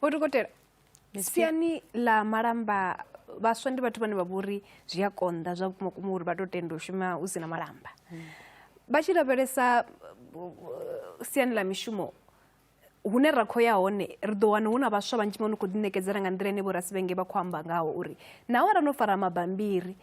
vho dokotela siani ḽa malamba vhaswa ndi vhathu vhane vha vhori zwi a konḓa zwa vhukuma kuma uri vha to tenda u shuma hu si na malamba hmm. vha tshi lavhelesa siani ḽa mishumo hune ra khou ya hone ri ḓo wana hu na vhaswa vhanzhi vho no khou ḓiṋekedzela nga nḓila ine vho rasivhenge vha khou amba ngaho uri naho ra no fara mabambiri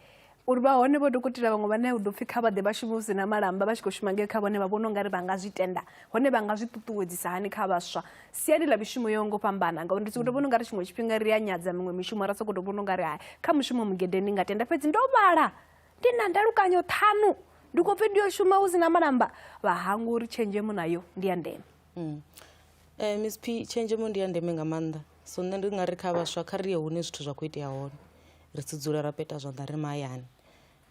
uri vha hone vho dokotela vhaṅwe vhane u ḓo pfhi kha vha ḓe vha shume hu si na malamba vha tshi khou shuma ngei kha vhone vha vhona u nga ri vha nga zwi tenda hone vha nga zwi ṱuṱuwedzisa hani kha vhaswa siani ḽa mishumo yo ngo fhambana ngauri ndi sokou to vhona u nga ri tshiṅwe tshifhinga ri a nyadza miṅwe mishumo ra sokou to vhona u nga ri hai kha mushumo mugede ndi nga tenda fhedzi ndo vhala ndi na ndalukanyo ṱhanu ndi khou pfhi ndi yo shuma hu si na malamba vha hangwa uri tshenzhemo nayo ndi ya ndeme mm. eh, msp tshenzhemo ndi ya ndeme nga maanḓa so nṋe ndi ngari kha vhaswa kha ri ye hune zwithu zwa kho itea hone ri si dzule ra peta zwanḓa ri mahayani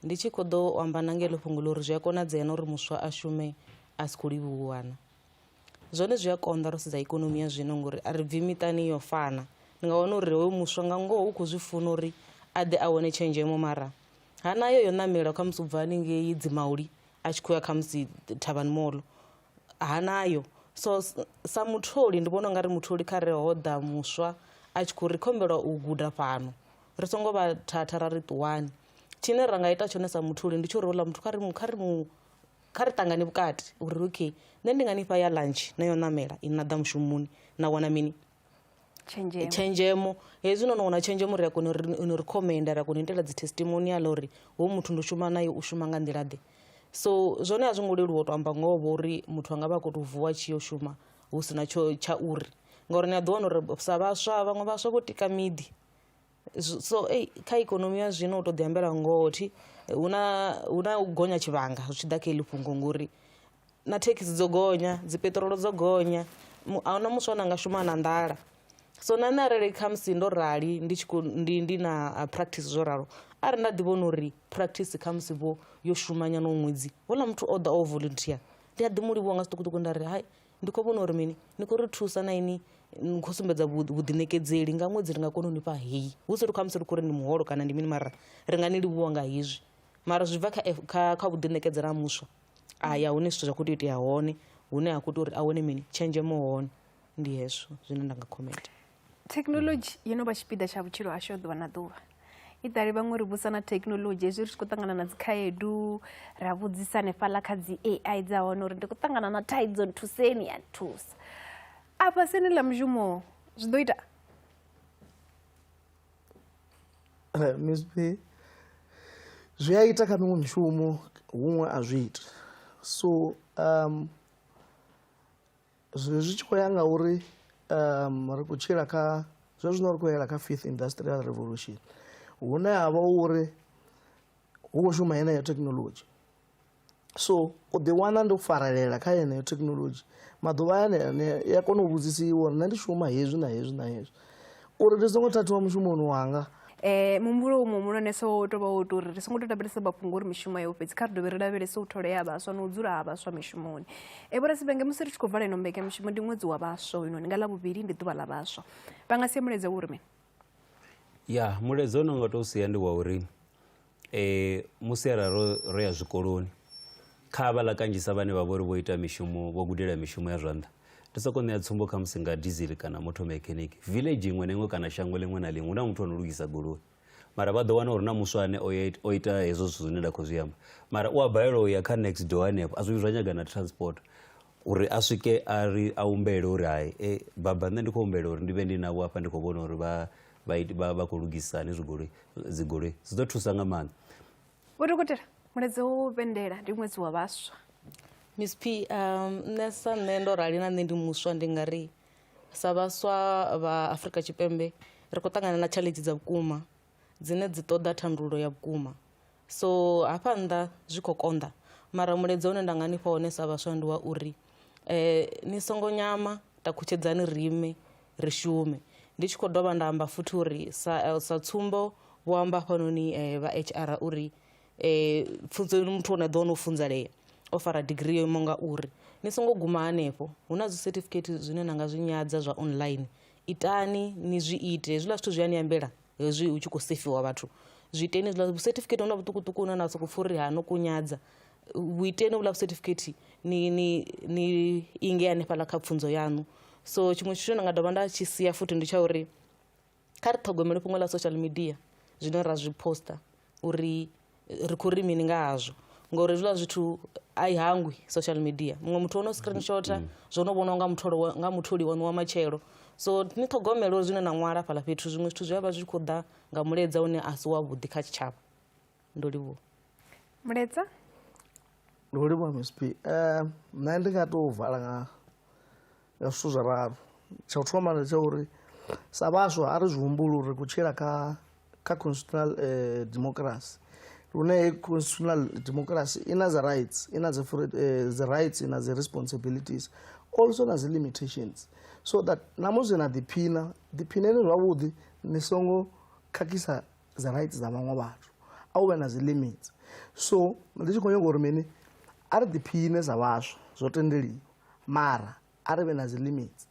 ndi tshi kho ḓo amba na ngelo fhungo ḽo uri zwi a konadzea na uri muswa a shume a si khou livhuwana zwone zwi a konḓa ro sedza ikonomi ya zwino ngori a ri bvi miṱani yo fana ndi nga wana uri hoyo muswa nga ngoho u khou zwi funa uri a ḓe a wane tshenzhemo mara ha nayo yo ṋamela khamusi u bva haningei dzimauli a tshi khou ya khamusi thavhani molo ha nayo so sa mutholi ndi vhona ungari mutholi kha re ho ḓa muswa a tshi khou ri khombela u guda fhano ri songo vha thatha ra ri ṱuwani tshine ra nga ita tshone sa mutholi ndi tsho uri uḽa muthu kha ri mu kha ri mu kha ri ṱangane vhukati uri okay nṋe ndi nga ni fha ya lunch na yo ṋamela i na ḓa mushumoni na wana mini tshenzhemo tshenzhemo hezwi no no wana tshenzhemo ri a kona uri no ri khomenda ra kona u itela dzi testimonial uri ho muthu ndo shuma naye u shuma nga nḓila ḓe so zwone a zwi ngo leluwa u to amba ngoho vho uri muthu anga vha a kho to vuwa tshi yo shuma hu sina tsho tsha uri ngauri ni a ḓi wana uri sa vhaswa vhaṅwe vhaswa vho tika miḓi Z- so ei kha ikonomi ya zwino u to ḓi ambela ngoho thi hu na hu na u gonya tshivhanga zwi tshi ḓa kha iḽi fhungo ngori na thekhisi dzo gonya dzi peṱirolo dzo gonya mu- a huna muswa na nga shuma na nḓala so na nṋe arali khamusi ndo rali ndi tshi khou ndi ndi na ah, practice zwo ralo arali nda ḓi vhona uri practice khamusi vho yo shumanyana u ṅwedzi houḽa muthu o ḓa o volunteer ndi a ḓi mu livhuwa nga zwiṱukuṱuku nda ri hai ndi khou vhona uri mini ni khou ri thusa na ini ni khou sumbedza vhuḓiṋekedzeli nga ṅwedzi ri nga kona u ni fha heyi hu si ri khamusi ri khou ri ni muholo kana ndi mini mara ri nga ni livhuwa nga hezwi mara zwi bva kha kha vhuḓiṋekedzela ha muswa a ya hune zwithu zwa khou tea u itea hone hune ha khou tea uri a wane mini tshenzhemo hone ndi hezwo zwine nda nga khomenta thekhinolodzhi yo no vha tshipiḓa tsha vhutshilo hashu ha ḓuvha na ḓuvha i ḓali vhaṅwe ri vhusa na thekhinolodzhi hezwi ri tshi khou ṱangana na dzikhaedu ra vhudzisa hanefhaḽa kha dzi ai dza hone uri ndi khou ṱangana na thaidzo nthuseni ya nthusa afha sini ḽa mushumo zwi ḓo ita eh, misp zwi a ita kha miṅwe mishumo huṅwe a zwi ita so um zwi zwi tshi khou ya nga uri um ri khou tshila kha zwe zwino ri khou yela kha fifth industrial revolution hune ha vha uri hu khou shuma yeneyo thekhinolodzhi so u ḓiwana ndo farelela kha yeneyo thekhinolodzhi maḓuvha ane a ya kona u vhudzisiwa uri nṋe ndi shuma hezwi na hezwi na hezwi uri ndi songo thathiwa mushumoni wanga um muhumbulo umwe muhulwanesa wo tou vha wo tou uri ri songo tou lavhelesa mafhungo uri mishumo yo fhedzi kha ri dovhe ri lavhelese u thole ya vhaswa na u dzula ha vhaswa mishumoni e eh, vhorasibenge musi ri tshi khou vala ino mbekanyamushumo ndi ṅwedzi wa vhaswa hoyunoni nga ḽa vhuvhili ndi ḓuvha ḽa vhaswa vha nga sia mulaedza wo uri mini ya mulaedza u no nga tou sia ndi wa uri e, musi ara ro, ro ya zwikoloni kha havhala kanzhisa vhane vha vhori vho ita mishumo vho gudela mishumo ya zwanḓa ndi soko ṋea tsumbo kha musi nga diesel kana motor mechanic village iṅwe na iṅwe kana shango ḽiṅwe na ḽiṅwe hu na muthu ano lugisa goloi mara vha ḓo wana uri na muswa ane o ita hezwo zwithu zwine nda khou zwi amba mara u a balelwa u ya kha next door hanefho a zwi zwa nyaga na transport uri a swike a ri a humbele uri hai e baba nṋe ndi khou humbela uri ndi vhe ndi navho hafha ndi khou vhona uri vha vha khou lugisa hanezwi goloi dzigoloi zwi ḓo thusa nga maanḓa vho dokotela muleze wo vhendela ndi ṅwedzi wa vhaswa miss p um, nṋe sa nṋe ndo rali na nṋe ndi muswa ndi nga ri sa vhaswa vha afrika tshipembe ri khou ṱangana na tshaḽedzi dza vhukuma dzine dzi ṱoḓa thandululo ya vhukuma So hafha nnḓa zwi khou konḓa mara mulaedza une nda nga ni fha wone sa vhaswa ndi wa uri eh, ni songo nyama takutshedzani rime ri shume ndi tshi khou dovha nda amba futhi uri sa, eh, sa tsumbo vho amba hafhanoni eh, vha hr uri eh, pfunzo muthu one ḓo no funzalea o fara digiri yo imaho nga uri ni songo guma hanefho hu na zwicertificate zwine na nga zwi nyadza zwa online itani ni zwi ite hezwiḽa zwithu zwi a ni ambela hezwi hu tshi khou sefiwa vhathu zwiiteni hezwiḽa vhucertificate hona vhuṱukuṱuku hune na sokou pfha uri ha no kunyadza vhuiteni vhuḽa vhucertificate ni ni ni inge hanefhaḽa kha pfunzo yaṋu so tshiṅwe tshithu ndi nga dovha nda tshi sia futhi ndi tsha uri kha ri ṱhogomele fhungo ḽa social media zwine ra zwi poster uri ri khou ri mini nga hazwo ngori hezwiḽa zwithu a i hangwi social media muṅwe muthu ono screenshota mm. zwo no vhonwa nga mutholi nga mutholi wanu wa matshelo so ni ṱhogomele uri zwine na ṅwala fhaḽa fhethu zwiṅwe zwithu zwi a vha zwi khou ḓa nga muledza une a si wavhuḓi kha tshitshavha ndo livhuwa muledza ndo livhuwa msp um eh, nṋe ndi nga tou vala nga nga zwithu zwa ralo tsha u thoma ndi tsha uri sa vhaswa a ri zwi humbuli uri ku tshila kha kha constitutional eh, democracy lune constitutional democracy i na dzi rights i na dzi eh, rights i na dzi responsibilities also na dzi limitations so that na musi na ḓiphina ḓiphineni zwavhuḓi ni songo khakhisa dzi rights dza vhaṅwe vhathu a u vhe na dzi limits so ndi tshi khou nyanga uri mini a ri ḓiphine sa vhaswa zwo tendeliwa Mara a ri vhe na dzi limits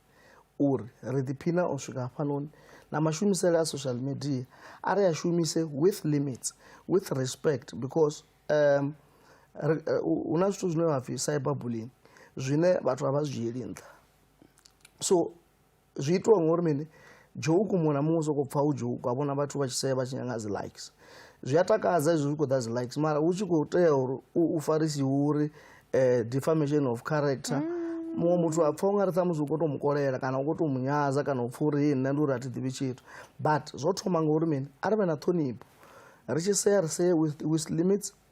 uri ri ḓiphina u swika hafhanoni na mashumisele a social media a ri a shumise with limits with respect because um hu na zwithu zwine vha pfhi cyber bullying zwine vhathu a vha zwi dzhieli nṱha so zwi itiwa ngori mini joke muṅwe na muṅwe u sokou pfha u joke a vhona vhathu vha tshi sea vha tshi nyanga dzi likes zwi a takadza izwi zwi khou ḓa dzi likes mara hu tshi khou tea uri u farisiwe uri eh, defamation of character mm muṅwe muthu a pfa u nga ri ṱhamusi u khou tou mu kolela kana u khou tou mu nyaza kana u pfa uri hii nṋe ndi uri a thi ḓivhi tshithu but zwo thoma ngauri mini a ri vhe na ṱhonipho ri tshi sea ri see with, with limits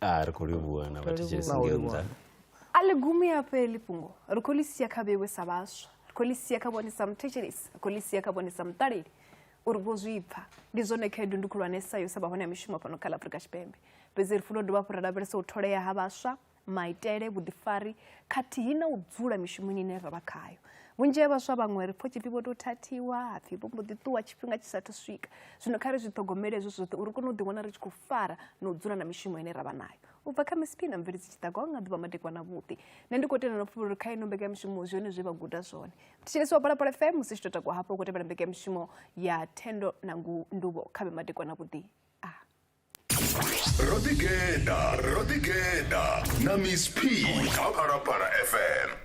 Ah, ri khou livhuwa na vhathetshelesi Vha u ngeo livhuwa. nnḓa a ḽi gumi a fheli fhungo ri khou ḽi sia kha vhewe sa vhaswa ri khou ḽi sia kha vhone sa muthetshelesi ri khou ḽi sia kha vhone sa muṱaleli uri vho zwi pfa ndi zwone khaedu ndi khulwanesa yo sa vha hone ha mishumo fhano kha ḽa afurika tshipembe fhedzi ri funa u dovha hafhu ra lavhelesa u tholea ha vhaswa maitele vhuḓifari khathihi na u dzula mishumoni ine ra vha khayo vhunzhi ha vhaswa vhaṅwe ri pfho tshipfi vho tou thathiwa hapfi vho mbo ḓi ṱuwa tshifhinga tshi sathu swika zwino kha ri zwi ṱhogomele hezwo zwoṱhe uri kone u ḓiwana ri tshi khou fara na u dzula na mishumo ine ra vha nayo u bva kha misiphi na mveledzi tshiṱago nga ḓuvha madekwana vhuḓi nṋe ndi khou tendela pfhulu uri kha ino mbekanyamishumo zwone zwe vha guda zwone thetshelesi wa palapala fm musi tshi tou takuwa hafho u khou tevhela mbekanyamishumo ya thendo na ndubo kha vhe madekwana vhuḓi a ro ḓigeḓa ro ḓigeḓa na miss p kha phalaphala fm